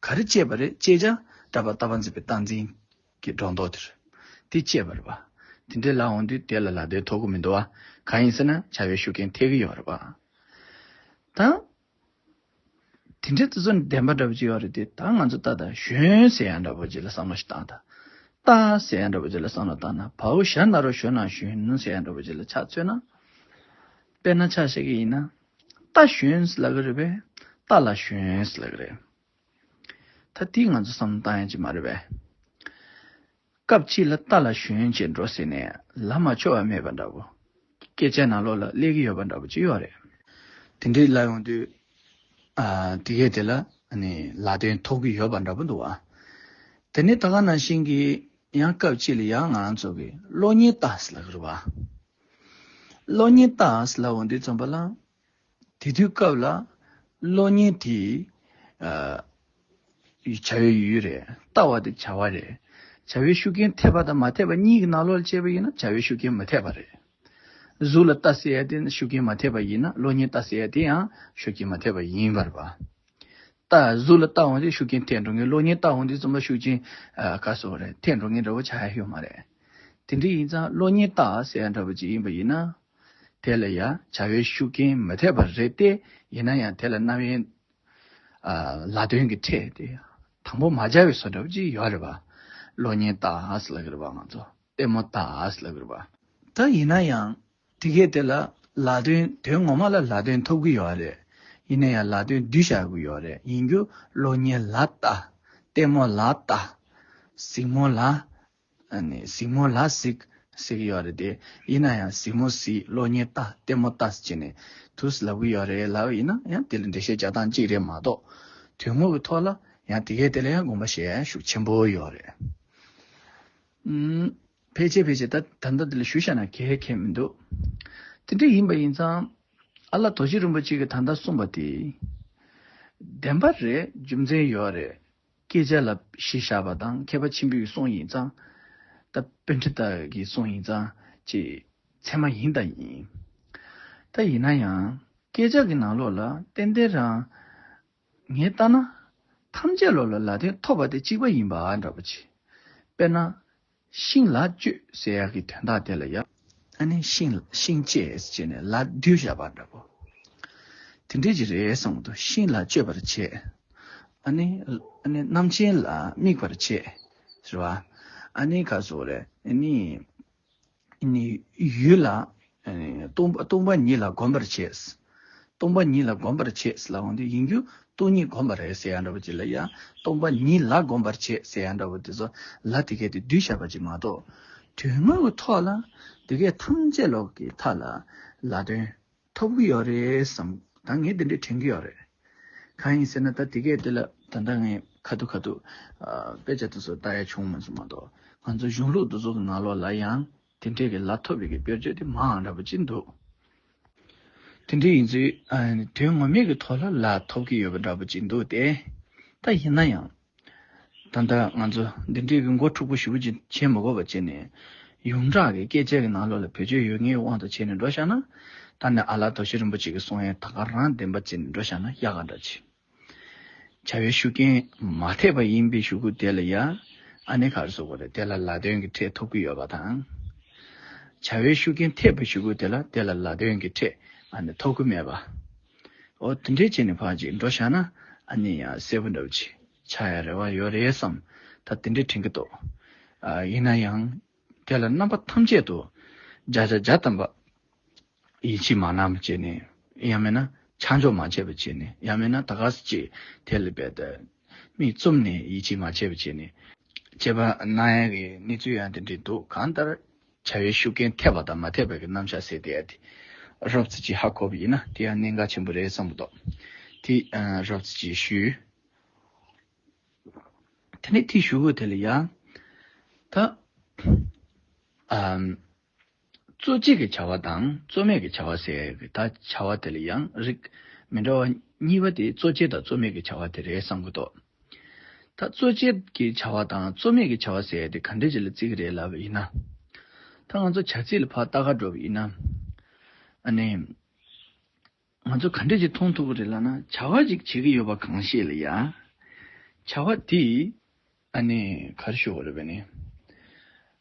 ག་རེ་སྤྱད་པ་རེད་ཅེས་ཀྱང་བཀྲ་བར་ལྟ་བ་མཛེས་པའི་སྟངས་འཛིན་གྱི་སྒྲོ་འདོགས་དེར། དེ་སྤྱད་པར་བ། དེ་འདྲའི་ལག་འོང་དུས་དེ་ལ་ལག་བདེ་ཐོག་གུ་མི་འདུག་གང་ཡིན་ཟེར་ན་བྱ་བའི་ཤུགས་རྐྱེན་ཐེག་གི་ཡོད་རེད་བ། ད། དེ་འདྲའི་བརྩི་སྲུང་ལྡན་པ་འདྲ་པོ་ཅིག་ཡོད་རེད་དེ་ད་ང་ཚོ་ལྟ་དང་གཞོན་ཟེར་ཡ་འདྲ་པོ་ཅིག་ལ་བསམ་བློ་ཞིག་བཏང་ད། རྟ་ཟེར་ཡ་འདྲ་པོ་ཅིག་ལ་བསམ་བློ་བཏང་ན་བ་འུ་ཞྭ་ནཱ་རོ་ཞོན་ནང་ཞོན་ཟེར་ཡ་འདྲ་པོ་ཅིག་ལ་ཆ་མཚོན་ན། དཔེར་ན་ཆ་བཤད་ཀྱི་ཡིན་ན། རྟ་ཞོན་ལབ་ཀྱི་རེད་པས་རྟ་ལ་ཞོན་ལབ་ཀྱི་རེད། ད་དེ་ང་ཚོ་བསམ་བློ་བཏང་ཡ་ཅིག་མ་རེད་པས། སྐབས་གཅིག་ལ་རྟ་ལ་ཞོན་བྱེད་འགྲོ་ཟེར་ནས་ལབ་མ་ཆོག་བ་མེད་པ་འདྲ་བོ། སྐད་ཆ་ནང་ལོགས་ལ་གླས་ཀྱི་ཡོད་པ་འདྲ་བོ་ཅི་ཡོད་རེད། དེ་འདྲའི་ལབ་ཡོང་དུས། དེ་གས་དེ་ལ་ལ་དོན་ཐོག་གི་ཡོད་པ་འདྲ་བོ་འདུག་བ། དེ་ནས་ད་ག་ནང་བཞིན་གྱི་ཡང་སྐབས་གཅིག་ལ་ཡང་ང་རང་ཚོ་གི་གློག་བརྙན་ལྟ་ལབ་ཀྱི་རེད་བ། གློག་བརྙན་ལྟ་ཨང་སླ་བོ་འདི་རྩོམ་པ་བླངས། དེ་དུས་སྐབས་ལ། གློག་བརྙན་དེ། བྱ་བའི་ཡུལ་རེད། ལྟ་བ་དེ་བྱ་བ་རེད། བྱ་བའི་ཤུགས་རྐྱེན་ཐེབས་པ་དང་མ་ཐེབས་པ་གཉིས་ཀྱི་ནང་ལོགས་ལ་དཔྱད་པ་ཡིན་ན་བྱ་བའི་ཤུགས་རྐྱེན་མི་ཐེབས་པ་རེད། གཟུགས་ལ་ལྟ་སའི་ཡ་དེ་ཤུགས་རྐྱེན་མ་ཐེབས་པ་ཡིན་ན་གློག་བརྙན་ལྟ་སའི་ཡ་དེ་ཡང་ཤུགས་རྐྱེན་མ་ཐེབས་པ་ཡིན། བར་པ། རྟགས་གཟུགས་ལ་རྟགས་འོང་དེ་ཤུགས་རྐྱེན་ཐེག་འགྲོ་ངེས་གློག་བརྙན་རྟགས་འོང་དེ་རྩོམ་ལ་ཤུགས་རྐྱེན་ཁ་གསོ་བ་རེད་ཐེག་འགྲོ་ངེས་འདྲ་བོ་ཆགས་ཡ་ཤོས་མ་རེད། དེ་འདྲ་ཡིན་ཙང་གློག་བརྙན་རྟགས་གསལ་འདྲ་བོ་ཅིག་ཡིན་པ་ཡིན་ན། དེ་ལ་ཡ་བྱ་བའི་ཤུགས་རྐྱེན་མི་ཐེག་པ་རེད་ཏེ་ཡིན་ན་ཡང་དེ་ལ་རྣམ་དབྱེ། ལ་དོན་གྱི་ཕྲད་དེ་དང་པོ་མ་སྦྱར་བའི་བཟོ་འདྲ་བོ་ཅིག་ཡོད་རེད་པ། གློག་བརྙན་རྟགས་ལ་ཁུར་བ་ང་ཚོ་ལྟད་མོ་རྟགས་ལ་ཁུར་བ། ད་ཡིན་ན་ཡང་དེ་སྐད་དེ་ལ་ལ་དོན་དོན་ངོ་མ་ལ་ལ་དོན་ཐོབ་གི་ཡོད་རེད། ཡིན་ན་ཡང་ལ་དོན་བསྡུས་བཞག་གི་ཡོད་རེད་ཡིན་རྒྱུ་གློ་སྙིང་ལ་བལྟ། ལྟད་མོ་ལ་བལྟ། གཟིགས་མོ་ལ། གཟིགས་མོ་ལ་གཟིགས། ཟེར་གི་ཡོད་རེད་དེ། ཡིན་ན་ཡང་གཟིགས་མོ་གཟིགས་གློ་སྙིང་བལྟ་ལྟད་མོ་བལྟ་བྱས་ནས་དུ་ལབ་གི་ཡོད་རེད་ལབ་ཡིན་ན་ཡང་དེ་ལ་འགྲེལ་བཤད་བྱ་སྟངས་གཅིག་རེད་མ་གཏོགས། དོན་དངོས་ཀྱི་ཐོག་ལ་ཡང་དེ་སྐད་དེ་ལ་ཡང་དགོངས་པ་བཞེས་ཤུགས་ཆེན་པོ་ཡོད་རེད། ཕལ་ཆེར་ཕལ་ཆེར་ད་ད་ལྟ་འདི་ལ་ཞུ་བཞག་ན་གལ་ཁེལ་མི་འདུག་དེ་འདྲ་ཡིན་པ་ཡིན་ཙང། ཨ་ལགས་རྡོ་རྗེ་རིན་པོ་ཆེ་གིས་ད་ལྟ་གསུངས་པ་དེ། བདེན་པ་རེད་རྒྱུ་མཚན་ཡོད་རེད། སྐད་ཆ་ལ་གཞི་བཞག་པ་དང་མཁས་པ་ཆེན་པོས་གསུངས་ཡིན་ཙང། ད་དཔོན་ཁྲི་དག་གིས་གསུངས་ཡིན་ཙང་ཅི། ཚད་མ་ཡིན་དང་ཡིན། ད་ཡིན་ན་ཡང་སྐད་ཆ་གི་ནང་ལོགས་ལ་ཏན་ཏན་རང། ངས་བལྟ་ན། ཐམས་ཅད་བློ་ལ་ལ་དོན་ཐོབ་པ་དེ་གཅིག་པ་ཡིན་པ་འདྲ་པོ་བྱེད། དཔེར་ན། ཤིང་ལ་གཅོད་ཟེར་ཡག་གི་དོན་དག་དེ་ལ་ཡག། ཨ་ནི་ཤིང་ཤིང་གཅེས་བྱས་ནས་ལ་བསྡུས་བཞག་པ་འདྲ་པོ། དེ་འགྲིག་གི་རེད་བསམ་གི་འདུག་ཤིང་ལ་གཅོད་པར་བྱེད། ཨ་ནི། ཨ་ནི་རྣམ་མཁྱེན་ལ་དམིགས་པར་བྱེད། ཟེར་བ། ཨ་ནི་ག་ཟོ་རེད། ཨ་ནི། ཡུལ་ལ། སྟོང་པ་ཉིད་ལ་བསྒོམ་པར་བྱས། སྟོང་པ་ཉིད་ལ་བསྒོམ་པར་བྱས་ལ་འོང་དུས་ཡིན་རྒྱུ་སྟོང་ཉིད་བསྒོམ་པར་རེ་ཟེར་ཡང་འདྲ་བ་ཅི་ལ་ཡང་སྟོང་པ་ཉིད་ལ་བསྒོམ་པར་བྱས་ཟེར་ཡང་འདྲ་བ་དེ་ཚོ་ལ་དེ་སྐད་དུ་གདུལ་བྱ་བ་ཅིག་མ་གཏོགས། དོན་དངོས་ཀྱི་ཐོག་ལ་དེ་སྐད་ཐམས་ཅད་ལོག་གི་མཐའ་ལ་ལ་དོན། ཐོབ་གི་ཡོད་རེད་བསམ། ད་ངས་དེ་འདྲས་དྲན་གི་ཡོད་རེད། གང་ཡིན་ཟེར་ན་ད་དེ་གས་དེ་ལ་ད་ལྟ་ངས་ཁ་ཐུག་ཁ་ཐུག་དཔེ་ཆ་དེ་ཚོ་ལྟ་ཡ་བྱུང་མ་སོང་མ་གཏོགས་ང་ཚོ་གཞུང་ལུགས་འདུ་ཚོགས་ཀྱི་ནང་ལོགས་ལ་ཡང་དེ་འདྲས་ཀྱི་ལ་ཐོབ་ཡོད་ཀྱི་དཔེར་བརྗོད་དེ་མའང་འདྲ་པོ་ཅི་འདུག། དེ་འདྲས་ཡིན་ཚུལ་དོན་ངོ་མེད་ཀྱི་ཐོག་ལ་ལ་ཐོབ་ཀྱི་ཡོད་པ་འདྲ་པོ་ཅི་འདུག་སྟེ། ད་ཡིན་ན་ཡང་ད་ལྟ་ང་ཚོ་འདི་འདྲའི་གི་མགོ་འཁྲུག་པོ་ཞིག་པོ་ཅི་བྱེད་མི་གོ་བ་བྱེད་ནས། ཡོངས་གྲགས་ཀྱི་སྐད་ཆའི་གི་ནང་ལོགས་ལ་བེད་སྤྱོད་ཡོད་ངེས་དབང་དུ་བྱས་ནས་འགྲོ་བཞག་ན། ད་ནི་ཨ་ལ་དོ་ཤི་རིན་པོ་ཆེ་གི་གསུང་ཡན་ད་ག་རང་བདེན་པ་བརྩི་ནས་འགྲོ་བཞག་ན་ཡག་ག་འདྲ་བྱེད། བྱ་བའི་ཤུགས་རྐྱེན་མ་ཐེབས་པ་ཡིན་པའི་ཞུ་གུ་དེ་ལ་ཡ། ཨ་ནི་གར་སོ་གོ་རེད་དེ་ལ་ལ་དོན་གི་ཁྲེད་ཐོབ་གི་ཡོད་པ་དང། བྱ་བའི་ཤུགས་རྐྱེན་ཐེབས་པའི་ཞུ་གུ་དེ་ལ་དེ་ལ་ལ་དོན་གི་ཁྲེད་ཨ་ནི་ཐོབ་གི་མེད་པ། ཨོ་དེ་འདྲའི་བྱས་ནས་ཕར་ཅིག་འགྲོ་བཞག་ན་ཨ་ནི་ཡང་གསལ་པོ་འདྲ་བོ་ཆེ་ཆགས་ཡ་རེ་བ་ཡོད་རེད་བསམ། ད་དེ་འདྲའི་དྲན་གི་འདུག། ཡིན་ན་ཡང་དེ་ལ་རྣམ་པ་ཐམས་ཅད་དུ་བརྒྱ་ཆ་བརྒྱ་བལྟམས་པ། ཡིད་ཆེས་མ་གནང་བ་བྱས་ནས་ཡང་མེད་ན་ཆགས་འཇོག་མ་བྱས་པ་བྱས་ནས་ཡང་མེད་ན་ད་ག་ཟེ་ཅིག་དེ་ལ་འབད། མིག་བཙུམ་ནས་ཡིད་ཆེས་མ་བྱས་པ་བྱས་ནས། བྱས་པ་ན་ཡང་གི་གནས་ཚུལ་ཡང་དེ་འདྲའི་འདུག་གང་ལྟར། བྱ་བའི་ཤུགས་རྐྱེན་ཐེབས་པ་དང་མ་ཐེབས་པ་གི་རྣམ་གཞག་ཟེར་བསྡད་ཡ་དེ། རབ་ཚེ་སྐྱིད་ཧ་གོ་བ་ཡིན་ན་དེ་ཡང་གནད་འགག་ཆེན་པོ་རེད་བསམ་གི་འདུག་དེ། རབ་ཚེ་སྐྱིད་ཞུས། དེ་ནས་དེ་ཞུ་བོ་དེ་ལ་ཡང། ད། གཙོ་གཅིག་གི་བྱ་བ་དང་གཙོ་མེད་ཀྱི་བྱ་བ་ཟེར་གི་ད་བྱ་བ་དེ་ལ་ཡང་རིགས་མི་འདྲ་བ་གཉིས་པ་དེ་གཙོ་ཆེ་དང་གཙོ་མེད་ཀྱི་བྱ་བ་དེ་རེད་བསམ་གི་འདུག་ད་གཙོ་བྱས་ཀྱི་བྱ་བ་དང་གཙོ་མེད་ཀྱི་བྱ་བ་ཟེར་ཡ་དེ་ག་འདྲའི་བྱེད་ལ་བརྩི་གི་རེད་ལབ་པ་ཡིན་ན། ད་ང་ཚོ་བྱ་ཚིག་ལ་ཕར་ལྟ་ག་འགྲོ་བ་ཡིན་ན། ཨ་ནི། ང་ཚོ་ག་འདྲའི་བྱེད་མཐོང་ཐུབ་པ་རེད་ལབ་ན་བྱ་བ་ཅིག་བྱེད་ཀྱི་ཡོད་པ་གང་ཤེས་ལ་ཡ། བྱ་བ་དེ། ཨ་ནི་གར་ཤོར་བ་རེད་བས་ནི།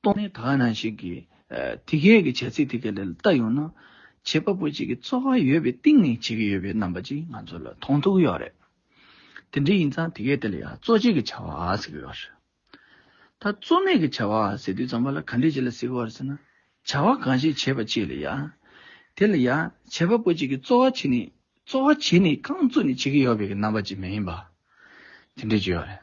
སྟོང་ཉིད་དག་ན་ཞིག་གི། དེ་སྐད་ཀྱི་བྱ་ཚིག་དེ་སྐད་ལས་བལྟ་ཡོང་ན། བྱེད་པ་པོ་གཅིག་གི་རྩོལ་བ་ཡོད་པའི་གཏིང་ནས་བྱེད་ཀྱི་ཡོད་པའི་རྣམ་པ་ཅིག་ང་ཚོ་ལ་མཐོང་ཐུབ་ཀྱི་ཡོད་རེད། དེ་འདྲ་ཡིན་ཙང་དེ་སྐད་དེ་ལ་ཡང་རྩོལ་བྱེད་ཀྱི་བྱ་བ་ཟེར་གྱི་ཡོད་རེད། ད་རྩོལ་མེད་ཀྱི་བྱ་བ་ཟེར་དུས་ཙམ་པ་ལ་ག་འདྲས་བྱེད་ལ་ཟེར་གི་ཡོད་རེད་ཟེར་ན། བྱ་བ་གང་ཞིག་བྱེད་པ་གཅིག་ལ་ཡང། དེ་ལ་ཡང་བྱེད་པ་པོ་གཅིག་གི་རྩོལ་བ་བྱས་ནས་རྩོལ་བ་བྱས་ནས་རྐང་བཙུགས་ནས་བྱེད་ཀྱི་ཡོད་པའི་རྣམ་པ་ཅིག་མ་ཡིན་པ། དེ་འདྲས་བྱེད་ཡོད་རེད།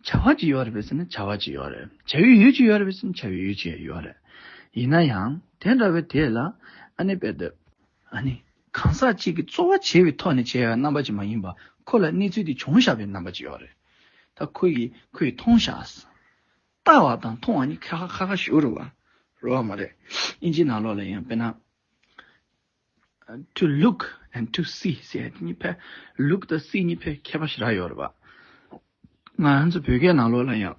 བྱ་བ་ཅི་ཡོད་རེད་ཟེར་ན་བྱ་བ་ཅི་ཡོད་རེད། བྱ་ཡུལ་ཡུལ་ཅི་ཡོད་རེད་ཟེར་ན་བྱ་ཡུལ་ཡུལ་ཅི་ཡོད་རེད། ཡིན་ན་ཡང་དེ་འདྲ་བའི་དེ་ལ་ཨ་ནེ་པད་དེབ། ཨ་ནེ། གང་ཟག་གཅིག་གི་རྩོལ་བ་བྱས་པའི་ཐོག་ནས་བྱས་པའི་རྣམ་པ་ཅིག་མ་ཡིན་པར་ཁོ་ལ་གནས་ཚུལ་དེ་བྱུང་བཞག་པའི་རྣམ་པ་ཅིག་ཡོད་རེད། ད་ཁོ་ཡིས་ཁོ་ཡི་མཐོང་བཞག་ཟིན། ལྟ་བ་དང་མཐོང་བ་གཉིས་ཁ་ཁ་ཁ་ཁ་ཞུ་རུ་བ་རུ་བ་མ་རེད། ཨིན་ཇི་ནང་ལོགས་ལ་ཡང་དཔེར་ན། to look and to see ཞེས་གཉིས་པའི look དང see གཉིས་པའི་ཁྱད་པར་ཞེ་དྲག་ཡོད་རེད། ང་ཚོ་བོད་སྐད་ནང་ལོགས་ལ་ཡང།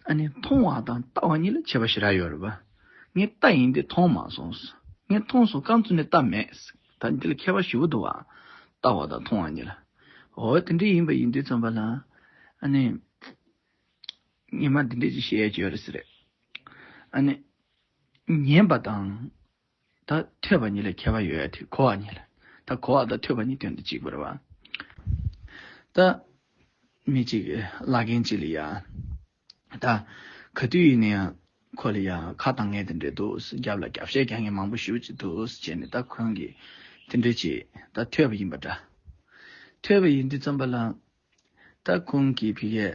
ཨ་ནི་མཐོང་བ་དང་ལྟ་བ་གཉིས་ལ་ཁྱད་པར་ཞེ་དྲག་ཡོད་རེད། ངས་ལྟ་ཡིན་ཏེ་མཐོང་མ་སོང། ངས་མཐོང་སོང་རྐང་བཙུགས་ནས་ལྟ་མེད། ད་འདི་ལ་ཁྱད་པར་ཞིབ་པོ་འདུག་ཨ། ལྟ་བ་དང་མཐོང་བ་གཉིས་ལ། འོ་དེ་འདྲ་ཡིན་པ་ཡིན་དུས་རྩོམ་པ་ལ། ཨ་ནི། ཉི་མ་འདི་འདྲས་ཅིག་བཤད་ཀྱི་ཡོད་རེད། ཨ་ནི། ཉན་པ་དང། ད་ཐོས་པ་ཉིད་ལས་ཁྱད་པར་ཡོད་དེ་གོ་བ་ཉིད་ལ། ད་གོ་བ་དང་ཐོས་པ་གཉིས་དོན་དུ་གཅིག་པར་བ། ད་མི་གཅིག་བླ་རྒན་གཅིག་ལ་ཡང། ད་ག་དུས་ཡིན་ན་ཡང་ཁོ་ལ་ཡང་ཁ་དང་ངས་དེ་འདྲས་འདུག་རྒྱབ་ལ་རྒྱབ་བཤད་ཀྱང་ངས་མང་པོ་ཞུ་ཅི་འདུག་བྱས་ནས་ད་ཁོང་གིས་དེ་འདྲས་བྱས་ད་ཐོས་པ་ཡིན་པ་འདྲ། ཐོས་པ་ཡིན་དུས་རྩོམ་པ་ལ་ལྟ་ཁུང་གི་བི་ཡས་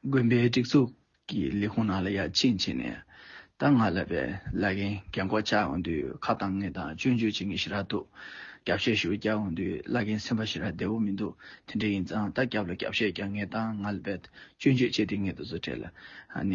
དགོན་པའི་སྒྲིག་འཛུགས་ཀྱི་ལས་ཁུངས་ནང་ལ་ཡར་ཕྱིན་བྱས་ནས་ད་སྔ་ལབ་པའི་བླ་རྒན་རྒན་འཁོགས་བཅའ་འོང་དུས་ཁ་བཏང་ངེས་དང་སྤྱོད་འཇུག་བྱེད་ངེས་ཞེ་དྲག་འདུག་རྒྱབ་བཤད་ཞུ་བརྒྱག་འོང་དུས་བླ་རྒན་སེམས་པ་ཞེ་དྲག་བདེ་བོ་མི་འདུག་དེ་འདྲ་ཡིན་ཙང་ད་རྒྱབ་ལ་རྒྱབ་བཤད་རྒྱག་ངེས་ད་སྔ་ལབ་པའི་སྤྱོད་འཇུག་བྱས་དེ་ངེས་དུ་བཟོ་གྲལ་ནས།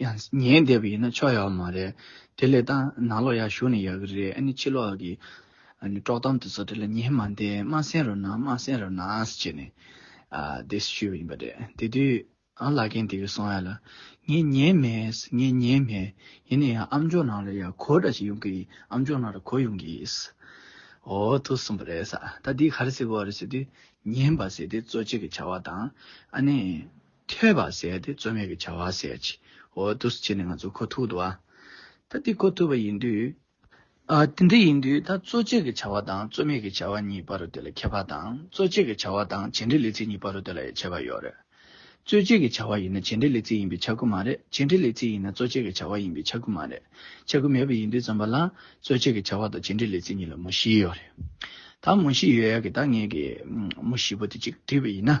ཡང་ཉན་བསྡད་པ་ཡིན་ན་ཆོག་ཡག་པོ་མ་རེད། དེ་ལས་ཏང་ནང་ལོགས་ཡར་ཞུགས་ནས་ཡག་གི་རེད་ཨ་ནི་ཕྱི་ལོགས་ཀྱི་དཀྲོག་གཏམ་དེ་ཚོ་དེ་ལ་ཉན་མ་འདས་སྨྲ་སེང་རོ་ནང་སྨྲ་སེང་རོ་ནང་ཟེར་བྱས་ནས་དེ་ཞུས་པ་ཡིན་པ་རེད་དེ་དུས་ཨ་ལགས་གན་དེ་གི་སོང་ཡ་ལ་ངས་ཉན་མེད་ངས་ཉན་མེད་ཡིན་ན་ཡང་ཨ་མཆོག་ནང་ལ་ཡང་གོ་འདྲ་ཞིག་ཡོང་གི་ཨ་མཆོག་ནང་ལ་གོ་ཡོང་གི་ཨོ་ཐུག་སོང་པ་རེད་ས་ད་འདི་ག་རེ་ཟེར་གོ་རེ་ཟེར་དུས་ཉན་པ་ཟེར་དེ་གཙོ་ཆེ་གི་བྱ་བ་དང་ཨ་ནི། ཐོས་པ་ཟད་དེ་རྩོལ་མེད་ཀྱི་བྱ་བ་ཟད་ཅིག། འོ་དུ་སུ་བྱས་ནས་ང་ཚོ་ཁོ་ཐུག་ཏུ་ཨ། ད་འདི་ཁོ་ཐུག་པ་ཡིན་དུས། ཨ་དེ་འདི་ཡིན་དུས་ད་རྩོལ་བཅས་ཀྱི་བྱ་བ་དང་རྩོལ་མེད་ཀྱི་བྱ་བ་གཉིས་པ་རུ་དེ་ལ་ཁྱད་པར་དང་རྩོལ་བཅས་ཀྱི་བྱ་བ་དང་བྱེད་འབྲེལ་ལས་ཚིག་གཉིས་པ་རུ་དེ་ལ་ཡང་ཁྱད་པར་ཡོད་རེད། རྩོལ་བཅས་ཀྱི་བྱ་བ་ཡིན་ན་བྱེད་འབྲེལ་ལས་ཚིག་ཡིན་པའི་ཆ་ཁུ་མ་རེད་བྱེད་འབྲེལ་ལས་ཚིག་ཡིན་ན་རྩོལ་བཅས་ཀྱི་བྱ་བ་ཡིན་པའི་ཆ་ཁུ་མ་རེད། ཆ་ཁུ་མེད་པ་ཡིན་དུས་ཙམ་པ་ལ་རྩོལ་བཅས་ཀྱི་བྱ་བ་དང་བྱེད་འབྲེལ་ལས་ཚིག་གཉིས་ལ་མུ་བཞི་ཡོད་རེད། ད་མུ་བཞི་ཡོད་ཡ་གི་ད་ངེད་ཀྱིས་མུ་བཞི་པོ་དེ་གཅིག་བྲིས་པ་ཡིན་ན།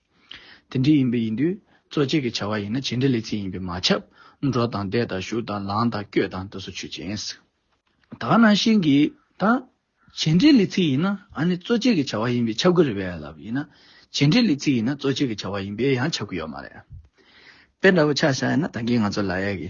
དེ་འདྲི་ཡིན་པས་ཡིན་དུས་གཙོ་བྱས་ཀྱི་བྱ་བ་ཡིན་ན་བྱེད་འབྲེལ་ལས་ཚིག་ཡིན་པས་མ་ཁྱབ། འགྲོ་དང་བསྡད་དང་བཞུགས་དང་ལངས་དང་བསྐྱོད་དང་དེ་སོགས་ཆོས་ཅན། དག་སྣང་ཤེས་གི་དང། བྱེད་འབྲེལ་ལས་ཚིག་ཡིན་ན་ཨ་ནི་གཙོ་བྱས་ཀྱི་བྱ་བ་ཡིན་པས་ཁྱབ་གི་རེད་བས་ལབ་ཡིན་ན། བྱེད་འབྲེལ་ལས་ཚིག་ཡིན་ན་གཙོ་བྱས་ཀྱི་བྱ་བ་ཡིན་པས་ཡང་ཁྱབ་གི་ཡོད་མ་རེད། དཔེ་འདྲ་བོ་ཆགས་བཞག་ཡིན་ན་ད་གིན་ང་ཚོ་ལ་ཡ་གི།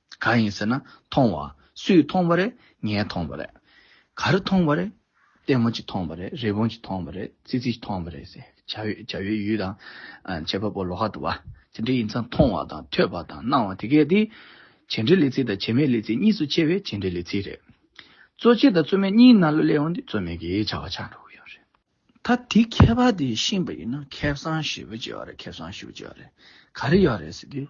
གང་ཡིན་ཟེར་ན་མཐོང་བ། སུས་མཐོང་བ་རེད། ངས་མཐོང་བ་རེད། ག་རེ་མཐོང་བ་རེད། ལྟད་མོ་གཅིག་མཐོང་བ་རེད། རི་བོང་གཅིག་མཐོང་བ་རེད། ཙི་ཙི་མཐོང་བ་རེད། བྱ་བའི་ཡུལ་དང། བྱེད་པ་པོ་ལོ་ཧ་དུ་བ། དེ་འདྲ་ཡིན་ཙང་མཐོང་བ་དང་ཐོས་པ་དང་སྣང་བ་དེ་གས་དེ། བྱེད་འབྲེལ་ལས་ཚིག་དང་བྱེད་མེད་ལས་ཚིག་གཉིས་སུ་ཕྱེ་བས་བྱེད་འབྲེལ་ལས་ཚིག་རེད། གཙོ་ཆེ་དང་གཙོ་མེད་གཉིས་སྣ་ལོ་ལས་འོངས་ཏེ་གཙོ་མེད་ཀྱི་བྱ་བ་ཆགས་འགྲོ་གི་ཡོད་རེད། ད་དེའི་ཁྱད་པར་དེ་ཤེས་པ་ཡིན་ན་ཁེ་བཟང་ཞེ་པོ་སྐྱེ་བ་རེད་ཁེ་བཟང་ཞེ་པོ་སྐྱེ་བ་རེད། ག་རེ་ཡོད་རེད་ཟེར་དུས།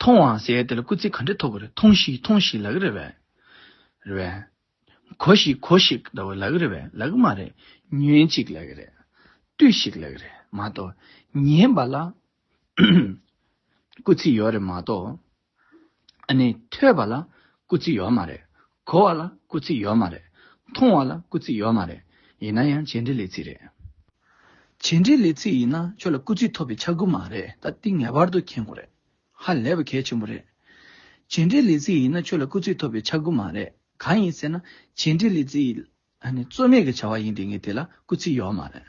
མཐོང་བའང་ཟད་དེ་ལ་སྐུ་ཚེ་ག་འདྲས་ཐོབ་པ་རེད་མཐོང་ཤིག་མཐོང་ཤིག་ལག་རེད་བས། རེད་བས། གོ་ཤིག་གོ་ཤིག་ཟླ་བ་ལག་རེད་བས་ལག་མ་རེད། ཉོན་ཅིག་ལག་རེད། ལྟོས་ཤིག་ལག་རེད་མ་གཏོགས། ཉན་པ་ལ། སྐུ་ཚེ་ཡོད་རེད་མ་གཏོགས། ཨ་ནི། ཐོས་པ་ལ། སྐུ་ཚེ་ཡོད་མ་རེད། གོ་བ་ལ་སྐུ་ཚིག་ཡོད་མ་རེད། མཐོང་བ་ལ་སྐུ་ཚིག་ཡོད་མ་རེད། ཡིན་ན་ཡང་བྱེད་འབྲེལ་ལས་ཚིག་རེད། བྱེད་འབྲེལ་ལས་ཚིག་ཡིན་ན་ཁྱོད་ལ་སྐུ་ཚིག་ཐོབ་པའི་ཆ་དགུ་མ་རེད་ད་ཏིང་ངེ་པར་དུ་མཁྱེན་དགོས་རེད། ཧ་ལས་པ་གལ་ཆེན་པོ་རེད། བྱེད་འབྲེལ་ལས་ཚིག་ཡིན་ན་ཁྱོད་ལ་སྐུ་ཚིག་ཐོབ་པའི་ཆ་དགུ་མ་རེད་གང་ཡིན་ཟེར་ན་བྱེད་འབྲེལ་ལས་ཚིག་ནི་རྩོད་མེད་ཀྱི་བྱ་བ་ཡིན་ཏེ་ངས་དེ་ལ་སྐུ་ཚིག་ཡོད་མ་རེད།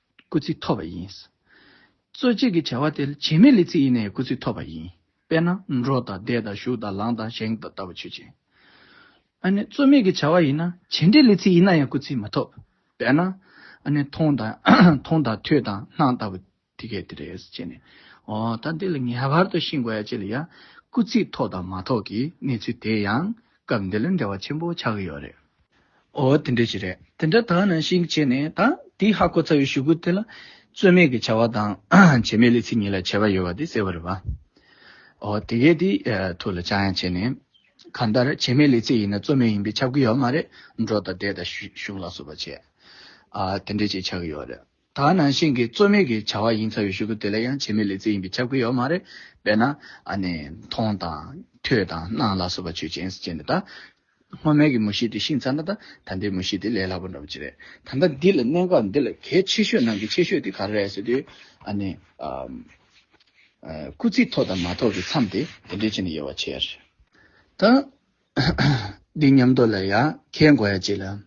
སྐུལ་ཚིག་ཐོབ་པ་ཡིན། རྩོད་བྱེད་ཀྱི་བྱ་བ་དེ་བྱེད་མེད་ལས་ཚིག་ཡེ་ནས་སྐུལ་ཚིག་ཐོབ་པ་ཡིན། དཔེར་ན། འགྲོ་དང་བསྡད་དང་བཞུགས་དང་ལངས་དང་བཞེངས་དང་ལྟ་བུ་ཆོས་ཅན། ཨ་ནི། རྩོད་མེད་ཀྱི་བྱ་བ་ཡིན་ན་བྱེད་འབྲེལ་ལས་ཚིག་ཡིན་ན་ཡང་སྐུལ་ཚིག་མ་ཐོབ། དཔེར་ན། ཨ་ནི། མཐོང་དང་ཐོས་དང་སྣང་ལྟ་བུ་དེ་སྐད་དེ་རེད་ཅེས་ནས། འོ་ད་འདི་ལ་ངེས་པར་དུ་ཤིང་བརྒྱད་ཅེས་ལ་ཡང་སྐུལ་ཚིག་ཐོབ་དང་མ་ཐོབ་ཀྱི་གནས་ཚུལ་དེ་ཡང་སྐབས་འདི་ལ་འབྲེལ་བ་ཆེན་པོ་ཆགས་ཀྱི་ཡོད་རེད། ཨོ་དེ་འདྲ་ཞིག་རེད། དེ་འདྲ་དག་ནང་བཞིན་བྱས་ནས་ད་དེའི་ཧ་གོ་ཚར་བའི་ཞུ་སྐུལ་དེ་ལ། རྩོད་མེད་ཀྱི་བྱ་བ་དང། བྱེད་མེད་ལས་ཚིག་གཉིས་ལ་བྱེད་པ་ཡོད་པ་དེ་གསལ་བོ་རེད་བ། ཨོ་དེ་གས་དེའི་ཐུགས་ལ་ཆགས་ཡང་བྱས་ནས། གང་ལྟར་བྱེད་མེད་ལས་ཚིག་ཡིན་ན་རྩོད་མེད་ཡིན་པས་ཁྱབ་ཀྱི་ཡོད་མ་རེད་འགྲོ་དང་བསྡད་དང་བཞུགས་ལ་སོགས་པ་བྱས། ཨ་དེ་འདྲ་ཞིག་ཆགས་ཀྱི་ཡོད་རེད། ད་ནང་བཞིན་གྱི་རྩོད་མེད་ཀྱི་བྱ་བ་ཡིན་ཚར་བའི་ཞུ་སྐུལ་དེ་ལ་ཡང་བྱེད་མི་ལས་རྩེ་ཡིན་པའི་ཁྱབ་ཁོལ་ཡོད་མ་རེད། དཔེར་ན། ཨ་ནི། མཐོང་དང། ཐོས་དང། སྣང་ལ་སོགས་པ་ཆོས་ཅན། ཅན་དེ་དག། སྔོན་མའི་གི་མུ་བཞི་དེ་ཤིང་ཚར་ན་ད་ལྟའི་མུ་བཞི་དེ་ལས་སླ་པོ་འདྲ་པོ་ཅི་རེད། ད་ལྟ་འདི་ལ་གནད་འགག་འདི་ལ་གལ་ཆེ་ཤོས་ནང་གི་ཆེ་ཤོས་དེ་ག་རེ་རེད་ཟེར་དུས། ཨ་ནི། སྐུ་ཚེ་ཐོག་དང་མ་ཐོག་གི་མཚམས་དེ་དེ་འདྲའི་ཆེ་ནས་ཡོད་བ་ཆེ་ཡ་རེད། ད། འདི་ཉམས་རྟོགས་ལ་ཡ། ཁའི་མགོ་ཡ་གཅིག་ལ།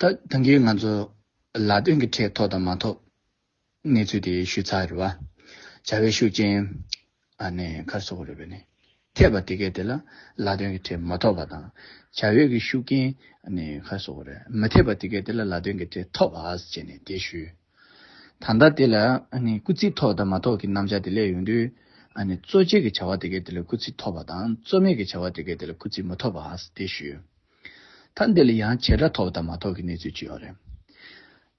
ད་གིན་ང་ཚོ་ལ་དོན་གྱི་ཁྲལ་ཐོབ་དང་མ་ཐོབ་གནས་ཚུལ་དེ་ཞུས་ཚར་རེད་བ། བྱ་བའི་ཤུགས་རྐྱེན་ནས་ཁར་སོ་གོ་རེད་བས་ནས་འཐད་པ་དེ་གས་དེ་ལ་ལ་དོན་གྱི་ཁྲལ་མ་ཐོབ་བ་དང། བྱ་བའི་གྱི་ཤུགས་རྐྱེན་ནས་ཁར་སོ་གོ་རེད་མི་འཐད་པ་དེ་གས་དེ་ལ་ལ་དོན་གྱི་ཁྲལ་ཐོབ་བ་བྱས་ནས་དེ་ཞུས། ད་ལྟ་དེ་ལ་སྐུ་ཚིགས་ཐོབ་དང་མ་ཐོབ་གྱི་རྣམ་བཞག་དེ་ལས་ཡོང་དུས། གཙོ་བྱས་གྱི་བྱ་བ་དེ་གས་དེ་ལ་སྐུ་ཚིགས་ཐོབ་བ་དང་གཙོ་མེད་གྱི་བྱ་བ་དེ་གས་དེ་ལ་སྐུ་ཚིགས་མ་ཐོབ་བ་དེ་ཞུས། ད་འདི་ལ་ཡང་བྱེད་སྒྲ་ཐོགས་དང་མ་ཐོགས་ཀྱི་གནས་ཚུལ་ཅི་ཡོད་རེད།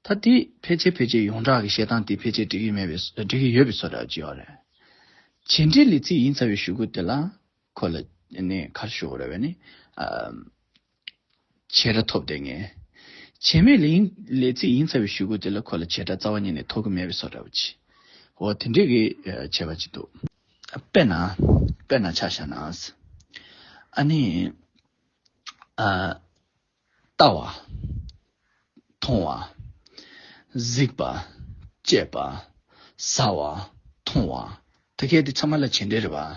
ད་དེ་ཕལ་ཆེར་ཕལ་ཆེར་ཡོངས་གྲགས་ཀྱི་བཤད་སྟངས་དེ་ཕལ་ཆེར་འགྲིག་གི་མེད་པའི་འགྲིག་གི་ཡོད་པའི་ཚོད་དྲག་ཅི་ཡོད་རེད། བྱེད་འབྲེལ་ལས་ཚིག་ཡིན་ཚར་བའི་ཞུ་སྒོ་དེ་ལ་ཁོ་ལ་ནི་གར་ཞུ་རོལ་བས་ནི། བྱེད་སྒྲ་ཐོབ་བསྡད་ངེས། བྱེད་མེད་ལས་ལས་ཚིག་ཡིན་ཚར་བའི་ཞུ་སྒོ་དེ་ལ་ཁོ་ལ་བྱེད་སྒྲ་རྩ་བ་ཉིད་ནས་ཐོགས་ཀྱི་མེད་པའི་ཚོད་དྲག་པོ་ཅི། འོ་དེ་འདྲས་ཀྱི་བྱས་པ་ཅི་འདུག། དཔེར་ན་དཔེར་ན་ཆ་བཞག་ན། ཨ་ནི། ལྟ་བ། མཐོང་བ། གཟིགས་པ། སྤྱད་པ། ཟ་བ། འཐུང་བ། ད་གས་དེ་ཚང་མ་ལ་བྱེད་འབྲེལ་རེད་བ།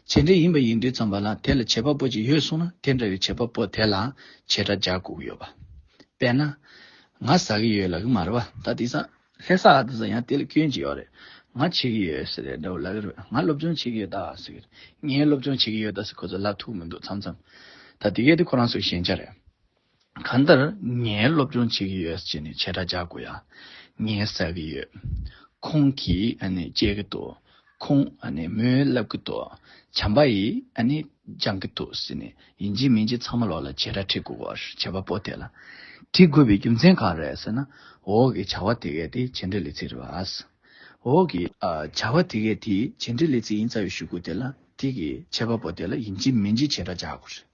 བྱེད་འབྲེལ་ཡིན་པ་ཡིན་དུས་ཙམ་པ་ལ་དེ་ལ་བྱེད་པ་པོ་ཅིག་ཡོད་སོང་ན་དེ་འདྲ་བའི་བྱེད་པ་པོ་དེ་ལ་བྱེད་སྒྲ་སྦྱར་དགོས་ཀྱི་ཡོད་བ། དཔེར་ན། ང་ཟ་གི་ཡོད་ལགས་ཀྱི་མ་རེད་བ། ད་དེ་ཟ། ལྷས་ས་དེ་ཟ་ཡང་དེ་ལ་སྐྱོན་ཅི་ཡོད་རེད། ང་བྱེད་ཀྱི་ཡོད་ཟེར་རེད་འདྲ་བོ་ལབ་ཀྱི་རེད། ང་སློབ་སྦྱོང་བྱེད་ཀྱི་ཡོད་ད་ཟེར། ངས་སློབ་སྦྱོང་བྱེད་ཀྱི་ཡོད་ད་ཟེར་ཁོ་ཚོ་ལབ་ཐུབ་མི་འདུག་མཚམས་མཚམས། ད་དེ་གལ་ཏེ་ཁོ་རང་ཚོའི་ཞན་ཆ་རེད། གང་ལྟར་ངས་སློབ་སྦྱོང་བྱེད་ཀྱི་ཡོད་ཅེས་ནས་བྱེད་སྒྲ་རྒྱག་དགོས་ཡ་ངས་ཟ་གི་ཡོད། ཁོང་གིས་ཨ་ནི་བཅད་ཀྱི་འདུག། ཁོང་མོའི་བསླབ་གི་འདུག་བྱམས་པ་ཡིས་སྦྱང་གི་འདུག་ཟེར་ནས་ཡིན་གཅིག་མིན་གཅིག་ཚང་མ་ལོག་ལ་བྱེད་ར་ཁྲིད་དགོས་བར་བྱ་བ་པོ་དེ་ལ། ཁྲིད་དགོས་པའི་རྒྱུ་མཚན་གང་རེད་ཟེར་ན། འོ་གི་བྱ་བ་དེ་གས་དེ་བྱེད་འདོད་ལས་ཚིག་རེད་བ། འོ་གི། བྱ་བ་དེ་གས་དེ་བྱེད་འདོད་ལས་ཚིག་ཡིན་རྩ་བའི་ཞུ་དགོས་དེ་ལ་ཁྲིད་ཀྱི་བྱེད་པ་པོ་དེ་ལ་ཡིན་གཅིག་མིན་གཅིག་བྱེད་ར་རྒྱག་དགོས་རེད།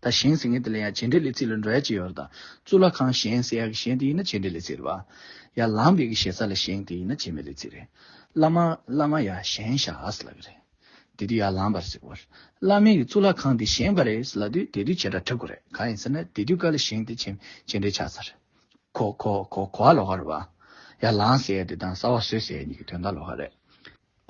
ད་གཞན་ཟེར་མཁན་དེ་ལ་ཡང་བྱེད་འབྲེལ་ལས་ཚིག་ལ་འགྲོ་ཡ་ཅི་ཡོད་དང། གཙུག་ལག་ཁང་གཞན་གསལ་ཡག་གི་གཞན་དེ་ཡིན་ན་བྱེད་འབྲེལ་ལས་ཚིག་རེད་བ། ཡ་ལམ་བེ་གི་ཞེ་ས་ལ་གཞན་དེ་ཡིན་ན་བྱེད་མེད་ལས་ཚིག་རེད། བླ་མ་བླ་མ་ཡ་གཞན་ཞག་ཨཱས་ལ་གི་རེད། དེ་དུས་ཡ་ལམ་བར་ཟེར་བར། བླ་མེད་ཀྱི་གཙུག་ལག་ཁང་དེ་གཞན་བ་རེད་ལ་དུས་དེ་དུས་བྱེད་སྒྲ་འཁྲབ་དགོས་རེད་གང་ཡིན་ཟེར་ན་དེ་དུས་ཀ་ལ་གཞན་དེ་བྱེད་བྱེད་འབྲེལ་ཆགས་ས་རེད། གོ་གོ་གོ་གོ་ཨ་ལོ་ཧ་རེད་བ། ཡ་ལམ་ཟེར་ཡ་དེ་དང་སྲ་བ་བཟོས་ཟེར་ཡ་གཉིས་ཀྱི་དོན་དག་ལོ་ཧ་རེད།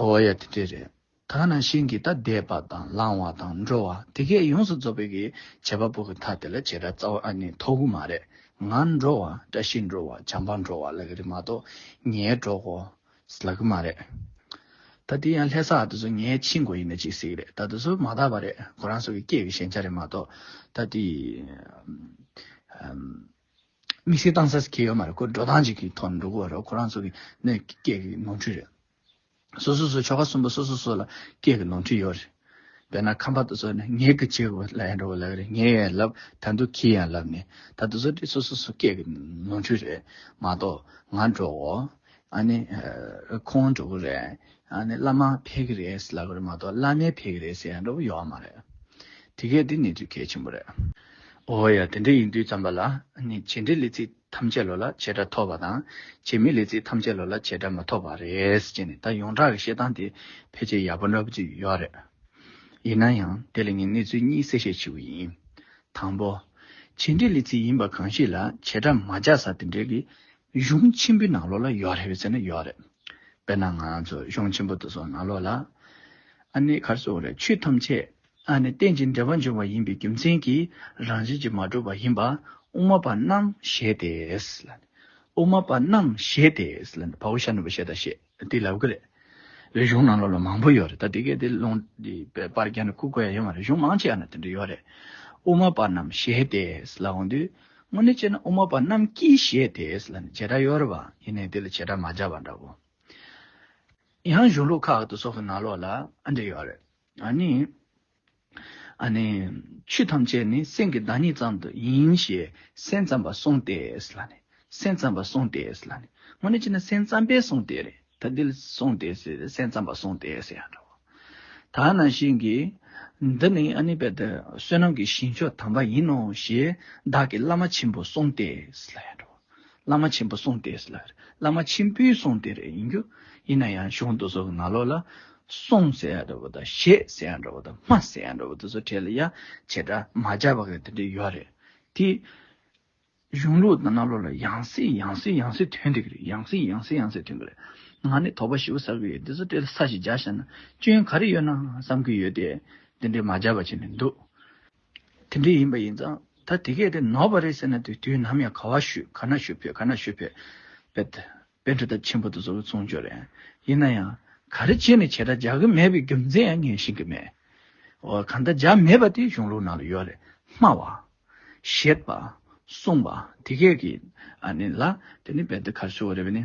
ཨོ་ཡ་དེ་འདྲས་རེད། དག་ན་ཤིང་གི་རྟ་འདེད་པ་དང་བསླང་བ་དང་འགྲོ་བ་དེ་གས་ཡོངས་སུ་རྫོགས་པའི་ཀྱི་བྱེད་པ་པོ་གི་མཐའ་དེ་ལ་བྱེད་ར་རྩ་བ་ཨ་ནི་ཐོག་གུ་མ་རེ་ང་འགྲོ་བ་བཀྲ་ཤིས་འགྲོ་བ་བྱམས་པ་འགྲོ་བ་ལ་གི་རི་མ་གཏོགས་ངའི་གྲོགས་གོ་ས་ལ་གུ་མ་རེ། ད་དེ་ཡང་ལྷས་ས་དེ་ཚོ་ངའི་ཕྱི་མགོ་ཡིན་ན་ཅིག་སིག་རེད་ད་དེ་ཚོ་མ་དག་པ་རེད་ཁོ་རང་ཚོ་གི་སྐད་གི་ཞན་ཆ་རེ་མ་གཏོགས་ད་དེ་དམིགས་བསལ་བཏང་ས་སི་ཁེ་ཡོད་མ་རེད་ཁོ་འགྲོ་སྟངས་ཅིག་གི་ཐོག་ནས་འགྲོ་གི་བ་རེད་ཁོ་རང་ཚོ་གི་ནས་སྐད་གི་ནོར་འཁྲུལ་རེད། སོ་སོ་སོའི་ཆོ་ག་གསུམ་པོ་སོ་སོ་སོ་ལ་སྐད་ཀྱི་ནོར་འཁྲུལ་ཡོད་རེད། དཔེར་ན་ཁམས་པ་དོ་ཚོ་ནི་ངེད་ཀྱི་བྱེད་པོ་ལ་ཡང་འགྲོ་བ་ལགས་རེད་ངེད་ཡང་ལབ་ད་འདུག་ཁྱེད་ཡང་ལབ་ནི་ད་དོ་ཚོ་འདི་སོ་སོ་སོ་སྐད་ཀྱི་ནོར་འཁྲུལ་རེད་མ་གཏོགས་ང་འགྲོ་གོ་ཨ་ནི་ཁོང་འགྲོ་གི་རེད་ཨ་ནི་བླ་མ་ཕེབས་ཀྱི་རེད་ལབ་རེད་མ་གཏོགས་བླ་མས་ཕེབས་ཀྱི་རེད་ཟེར་ཡང་འགྲོ་བ་ཡོད་བ་མ་རེད། དེ་གས་འདི་ནི་དུས་གལ་ཆེན་པོ་རེད། ཨོ་ཡ་དེ་འདྲ་ཡིན་དུས་ཙམ་པ་ལ་ནི་བྱེད་འབྲེལ་ལས་ཚིག་ཐམས་ཅད་ལོ་ལ་བྱེ་བྲག་ཐོབ་པ་དང་བྱེད་མི་ལས་ཚིག་ཐམས་ཅད་ལོ་ལ་བྱེ་བྲག་མ་ཐོབ་པ་རེད་ཅེས་ནས་ད་ཡོངས་གྲགས་ཀྱི་བཤད་སྟངས་དེ་ཕལ་ཆེར་ཡག་པོ་འདྲ་པོ་ཅིག་ཡོད་རེད། ཡིན་ན་ཡང་དེ་ལ་ངས་གནས་ཚུལ་གཉིས་གསལ་བཤད་བྱེད་འོས་ཡིན། དང་པོ། བྱེད་འབྲེལ་ལས་ཚིག་ཡིན་པ་གང་ཞིག་ལ་བྱེ་བྲག་མ་སྦྱར་ས་དེ་འབྲེལ་གྱི་གཞུང་ཆེན་པོའི་ནང་ལོགས་ལ་ཡོད་རེད་བའི་ཚེ་ན་ཡོད་རེད། དཔེར་ན་ང་ཚོ་གཞུང་ཆེན་པོ་དེ་ཚོ་ནང་ལོགས་ལ་ཨ་ནེ་གར་སོགས་རེད་ཆོས་ཐམས་ཅད་ལྷ་ནི་རྟེན་ཅིང་འབྲེལ་པར་འབྱུང་བ་ཡིན་པའི་རྒྱུ་མཚན་གྱིས་རང་བཞིན་གྱིས་མ་གྲུབ་པ་ཡིན་པ། དབུ་མ་པ་རྣམས་ཞེས་ཏེ། དབུ་མ་པ་རྣམས་ཞེས་ཏེ། བ་ཧུ་ཤ་ནུ་བ་ཤ་ད་ཤེས་ཏེ་ལབ་ཀི་རེད། རེ་གཞུང་ནང་ལོགས་ལ་མང་པོ་ཡོད་རེད་ད་དེ་གའི་དེ་ལུང་དེའི་པར་རྒྱ་ནི་ཁུག་དགོས་ཡ་ཡོད་མ་རེད་གཞུང་མང་ཆེ་ཡང་ན་དེ་འདྲ་ཡོད་རེད། དབུ་མ་པ་རྣམས་ཞེས་ཏེ་ལ་འོང་དུས། དངོས་གནས་བྱས་ན་དབུ་མ་པ་རྣམས་ཀྱིས་ཞེས་ཏེ་ལ་ནི་བྱེ་བྲག་ཡོད་རེད་བ་ཡིན་ནའི་དེ་ལ་བྱེ་བྲག་མ་སྦྱར་བ་འདྲ་བོ། ཡང་གཞུང་ལུགས་ཁག་ཏུ་སོགས་སུ་ནང་ལོགས་ལ་འདྲེ་ཡོད་རེད། ཨ་ནི། ཨ་ནི། ཆོས་ཐམས་ཅད་ནི་སེམས་ཀྱི་བདག་ཉིད་ཙམ་དུ་ཡིན་ཞེས་སེམས་ཙམ་པ་གསུངས་ཏེ། ལ་ནི། སེམས་ཙམ་པ་གསུངས་ཏེ། ལ་ནི། སྔོན་ནི་ཅི་ནས་སེམས་ཙམ་པས་གསུངས་ཏེ། ད་འདི་ལ་གསུངས་ཏེ། སེམས་ཙམ་པ་གསུངས་ཏེ། ད་ནང་བཞིན་གྱི། འདི་ནི་ཨ་ནི་པདྨ་བསོད་ནམས་ཀྱི་ཞིང་མཆོག་དམ་པ་ཡིན་ནོ་ཞེས་བདག་གི་བླ་མ་ཆེན་པོས་གསུངས་ཏེ། ལ་ཡང་འགྲོ། བླ་མ་ཆེན་པོ་གསུངས་ཏེ་ལ། བླ་མ་ཆེན་པོའི་གསུངས་ཏེ་རེ་ཡིན་རྒྱུ། ཡིན་ན་ཡང་གཞུང་དུ་སོགས་ན་ལོག་ལ། གསུངས་ཟེར་ཡ་འདྲ་བོ་དང་བཞེད་ཟེར་ཡ་འདྲ་བོ་དང་སྨྲ་ཟེར་ཡ་འདྲ་བོ་དེ་ཚོ་བྲལ་ཡ། བྱེ་བྲག་མ་སྦྱར་བ་ག་དེ་འདྲས་ཡོད་རེད། དེ། གཞུང་ལུགས་དང་ན་ལོག་ལ་ཡང་སྲིད་ཡང་སྲིད་ཡང་སྲིད་དོན་འགྲིག་རེད་ཡང་སྲིད་ཡང་སྲིད་ཡང་སྲིད་དོན་འགྲིག་རེད། ང་ནི་དོགས་པ་ཞི་བོ་ཟ་གི་ཡོད་དེ་ཚོ་བྲལ་ས་ཞིག་སྦྱར་བཞག་ན་སྐྱོན་ག་རེ་ཡོད་ན་བསམ་གི་ཡོད་དེ། དེ་འདྲས་མ་སྦྱར་བ་བྱས་ནས་འདུག། དེ་འདྲ་ཡིན་པ་ཡིན་ཙང་ད་དེ་གས་དེ་ནོར་བ་རེད་ཟེར་ན་དེ་དུས་ནམ་ཡང་ག་བ་ཞུས་ག་ན་ཞུས་ཕོད་ག་ན་ཞུས་ཕོད། དཔེར་འདྲི་ཐབས་ཆེན་པོ་དེ་ཚོ་མཚུངས་ཆོས་རེད། ཡིན་ན་ཡང་ག་རེ་བྱས་ནས་བྱས་དྲག་རྒྱག་གི་མེད་པའི་རྒྱུ་མཚན་ཡང་ངས་ཤེས་ཀྱི་མེད། འོ་གང་ལྟར་རྒྱག་མེད་པ་དེ་གཞུང་ལུགས་ནང་ལ་ཡོད་རེད་སྨྲ་བ། བཤད་པ། གསུངས་པ་དེ་གས་ཀྱིས་ཨ་ནི་ལ་དེ་ནི་བལ་དུ་གར་ཞུ་བ་རེད་བས་ནི།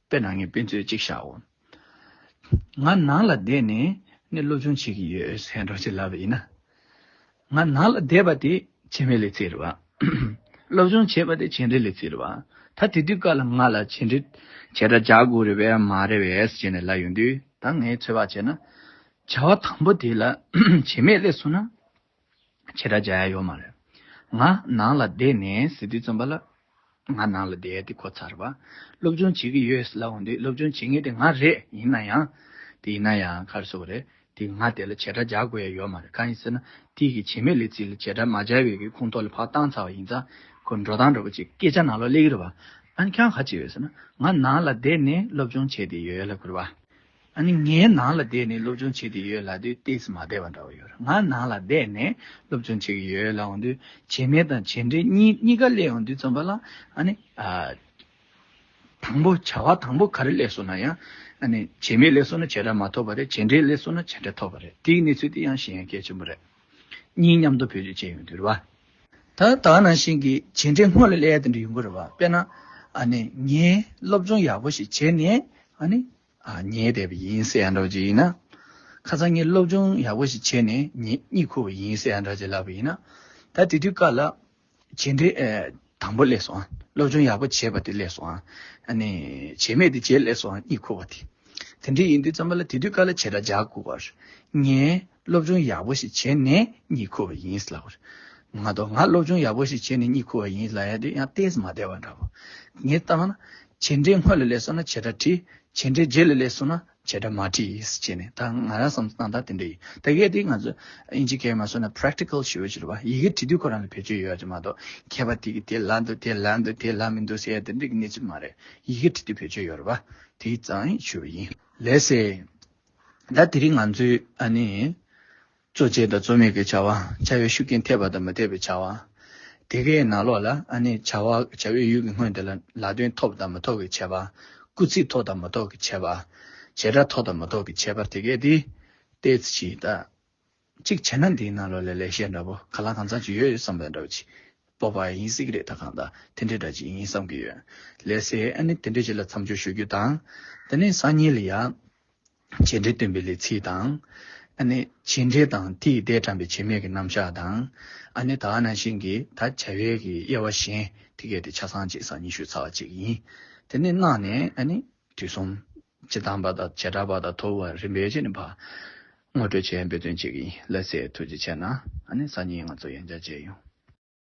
དཔེ་ན་ངའི་དཔེ་མཛོད་ཅིག་བཞག་འོ། ང་ནང་ལ་བསྡད་ནས་ནས་སློབ་སྦྱོང་བྱེད་ཀྱི་ཡོད་སེང་རང་བྱེད་ལབ་པ་ཡིན་ན། ང་ནང་ལ་བསྡད་པ་དེ་བྱེད་མི་ལས་བརྩེ་རུ་བ། སློབ་སྦྱོང་བྱེད་པ་དེ་བྱེད་འབྲེལ་ལས་བརྩེ་རུ་བ། ད་དེ་དུས་སྐབས་ལ་ང་ལ་བྱེད་འབྲེལ་བྱེད་སྒྲ་རྒྱག་དགོས་རེད་བས་མ་རེད་བས་བྱེད་ནས་ལ་ཡོང་དུས་ད་ངས་ཚོད་དཔག་བྱས་ན། བྱ་བ་དང་པོ་དེ་ལ་བྱེད་མེད་ལས་སོང་ན། ཆེ་དགྲ་བཅའ་ཡ་ཡོད་མ་རེད། ང་ནང་ལ་བསྡད་ནས་ཟི་ཏི་རྩོམ་པ་ལ་ང་ནང་ལ་བསྡད་ཡ་དེ་གོ་ཚར་བ། སློབ་སྦྱོང་བྱེད་ཀྱི་ཡོད་ལབ་འོང་དུས་སློབ་སྦྱོང་བྱེད་ངེས་དེ་ང་རེད་ཡིན་ན་ཡང། དེ་ཡིན་ན་ཡང་ཁར་སོ་བ་རེད་དེ་ང་དེ་ལ་ཆེ་དགྲ་བཅའ་དགོས་ཡ་ཡོད་མ་རེད་གང་ཡིན་ཟེར་ན་དེའི་གི་བྱེད་མེད་ལས་ཚིག་ལ་ཆེ་དགྲ་མ་བཅའ་བའི་གི་ཁུངས་ཐོག་ལ་བག་བཏང་ཚར་བ་ཡིན་ཙང་ཁོ་འགྲོ་སྟངས་འགྲོ་པ་ཅིག་སྐད་ཆ་ནང་ལོག་གླེགས་རེད་བ། ཨ་ནི་ཁྱོད་ག་ཅིག་ཡོད་ཟེར་ན་ང་ནང་ལ་བསྡད་ནས་སློབ་སྦྱོང་བྱས་དེ་ཡོད་ལབ་དགོས་རེད་བ། ཨ་ནི་ངའི་ནང་ལ་བསྡད་ནས་སློབ་སྦྱོང་བྱེད་དེ་ཡོད་ལ་དུས་དེ་ཚོ་མ་བསྡད་པ་འདྲ་བོ་ཡོད་རེད་ང་ནང་ལ་བསྡད་ནས་སློབ་སྦྱོང་བྱེད་ཀྱི་ཡོད་ལ་འོང་དུས་བྱེད་མེད་དང་བྱེད་འབྲས་གཉིས་གཉིས་ཀ་གླས་འོང་དུས་རྩོམ་པ་ལ་ཨ་ནི། དང་པོ་བྱ་བ་དང་པོ་ག་རེ་གླས་སོང་ན་ཡང་ཨ་ནི་བྱེད་མེད་གླས་སོང་ན་བྱེད་འབྲས་མ་ཐོབ་པ་རེད་བྱེད་འབྲས་གླས་སོང་ན་བྱེད་འབྲས་ཐོབ་པ་རེད་དེའི་གནས་ཚུལ་དེ་ཡང་གཞན་ཡང་གལ་ཆེན་པོ་རེད། གཉིས་མཉམ་དུ་བེད་སྤྱོད་བྱས་ཡོང་དུས་རེད་བ། ད་ལྟ་ནང་བཞིན་གྱི་བྱེད་འབྲས་སྔོན་ལ་གླས་དེ་འདྲ་ཡོང་གི་རེད་བ་དཔེར་ན། ཨ་ནི་ངས་སློབ་སྦྱོང་ཡག་པོ་ཞིག་བྱས་ནས་ཨ་ནི། ཉལ་བསྡད་པ་ཡིན་སེ་ཡང་འདྲ་བ་ཅིག་ཡིན་ན། ཁ་ཚང་ངས་སློབ་སྦྱོང་ཡག་པོ་ཞིག་བྱས་ནས་གཉིད་ཁུག་པ་ཡིན་སེ་ཡང་འདྲ་ཅིག་ལབ་པ་ཡིན་ན། ད་དེ་དུས་བཀའ་ལ། བྱས་འབྲས་དང་པོ་སླེབས་སོང་སློབ་སྦྱོང་ཡག་པོ་བྱས་པ་དེ་སླེབས་སོང། བྱས་མེད་དེ་རྗེས་སླེབས་སོང་གཉིད་ཁུག་པ་དེ། དེ་འདྲ་ཡིན་དུས་ཙམ་པ་ལ་དེ་དུས་བཀའ་ལ་བྱས་འདྲ་འཇགས་དགོས་པར་ངས་སློབ་སྦྱོང་ཡག་པོ་ཞིག་བྱས་ནས་གཉིད་ཁུག་པ་ཡིན་ལབ། ང་དང་ང་སློབ་སྦྱོང་ཡག་པོ་ཞིག་བྱས་ནས་གཉིད་ཁུག་པ་ཡིན་ལབ་ཡང་དེ་ཡང་བལྟས་སུ་མ་བལྟས་པ་འདྲ་བོ། ངས་བརྟགས་ན། བྱས་འབྲས་སྔོན་ལ་སླེབས་སོང་ན་བྱས་སྒྲ་བྲིས། བྱས་འབྲས་རྗེས་ལ་སླེབས་སོང་ན་བྱས་སྒྲ་མ་བྲིས་བྱས་ནས་ད་ང་རང་བསམ་སྟངས་ད་དེ་འདྲ་ཡིན། ད་གལ་ཏེ་ང་ཚོས་དབྱིན་ཇི་གས་མ་སོང་ན Practical ཞུ་བ་ཞིག་ལ་བ་ཡི་གེ་བྲི་དུས་ཁོ་རང་ལ་བེད་སྤྱོད་ཡོད་ཡོད་ཀྱི་མ་གཏོགས་མཁས་པ་དེ་གིས་དེ་ལ་འདུག་དེ་ལ་འདུག་དེ་ལ་མི་འདུག་ཟེར་ཡ་དེ་འདྲ་གི་གནས་ཚུལ་མ་རེད། ཡི་གེ་བྲི་དུས་བེད་སྤྱོད་ཡོད་རེད་བ། དེའི་ཙང་ཞུ་བ་ཡིན། ལེ་ཟེར། ད་དེ་རིང་ང་ཚོས་ནི། གཙོ་བྱས་དང་གཙོ་མེད་ཀྱི་བྱ་བ། བྱ་བའི་ཤུགས་རྐྱེན་ཐེབས་པ་དང་མི་ཐེབས་པའི་བྱ་བ། དེ་གའི་ནང་ལོགས་ལ་ནི། བྱ་བའི་ཡུལ་གྱི་སྔོན་དེ་ལ་ལག་འདོན་ཐོབ་དང་མི་ཐོབ་ཀྱི་བྱ་བ། སྐུལ་ཚིག་ཐོབ་དང་མི་ཐོབ་ཀྱི་བྱ་བ། བྱེད་སྒྲ་ཐོབ་དང་མི་ཐོབ་ཀྱི་བྱ་བར་དེ་གའི་དེ། ཏེ་ཇི་ལྟ། གཅིག་བྱས་ན་འདིའི་ནང་ལོགས་ལས་ལེགས་བཤད་འདྲ་པོ་ག་ལ་གང་ཚང་ཅིག་ཡོད་ཡོད་བསམ་པའི་འདྲ་པོ་ཅིག་སྤོབས་པ་ཡིན་སྲིད་ཀྱི་རེད་ད་གང་ལྟར་དེ་འདྲའི་འདྲ་ཅིག་ཡིན་བསམ་གྱི་ཡོད། ལས་སའི་ཨ་ནི་དེ་འདྲའི་ཆེད་ལ་མཚམས་སྦྱོར་ཞུ་རྒྱུ་དང། དེ་ནས་སང་ཉིན་ལ་ཡང། བྱས་འབྲས་སྟོན་པའི་ལས་ཚིག་དང། ཨ་ནི་བྱས་འབྲས་དང་དེའི་ཟླས་དྲངས་པའི་བྱས་མེད་ཀྱི་རྣམ་གཞག་དང། ཨ་ནི་ད་ནང་བཞིན་གྱི་ད་བྱ་བའི་གི་དབྱེ་བ་གཞན་དེ་གལ་ཏེ་ཆ་ཚང་ཅིག་སང་ཉིན་ཞུ་ཚར་བ་ཅིག་ཡིན། དེ་ནས་གནང་ནས་ཨ་ནི། དུས་གསུམ། ཇི་ལྟ་བ་དང་བྱེ་བྲག་པ་དང་ཐོབ་བའི་རིམ་པའི་ཡེ་ཤེས་ནི་བར། ངོ་སྤྲོད་བྱེད་འབུལ་དོན་གཅིག་ཡིན་ལེགས་སེ་ཐུགས་རྗེ་ཆེ། ན་ནི་སང་ཉིན་ང་ཚོ་ཡང་བསྐྱར་མཇལ་ཡོང།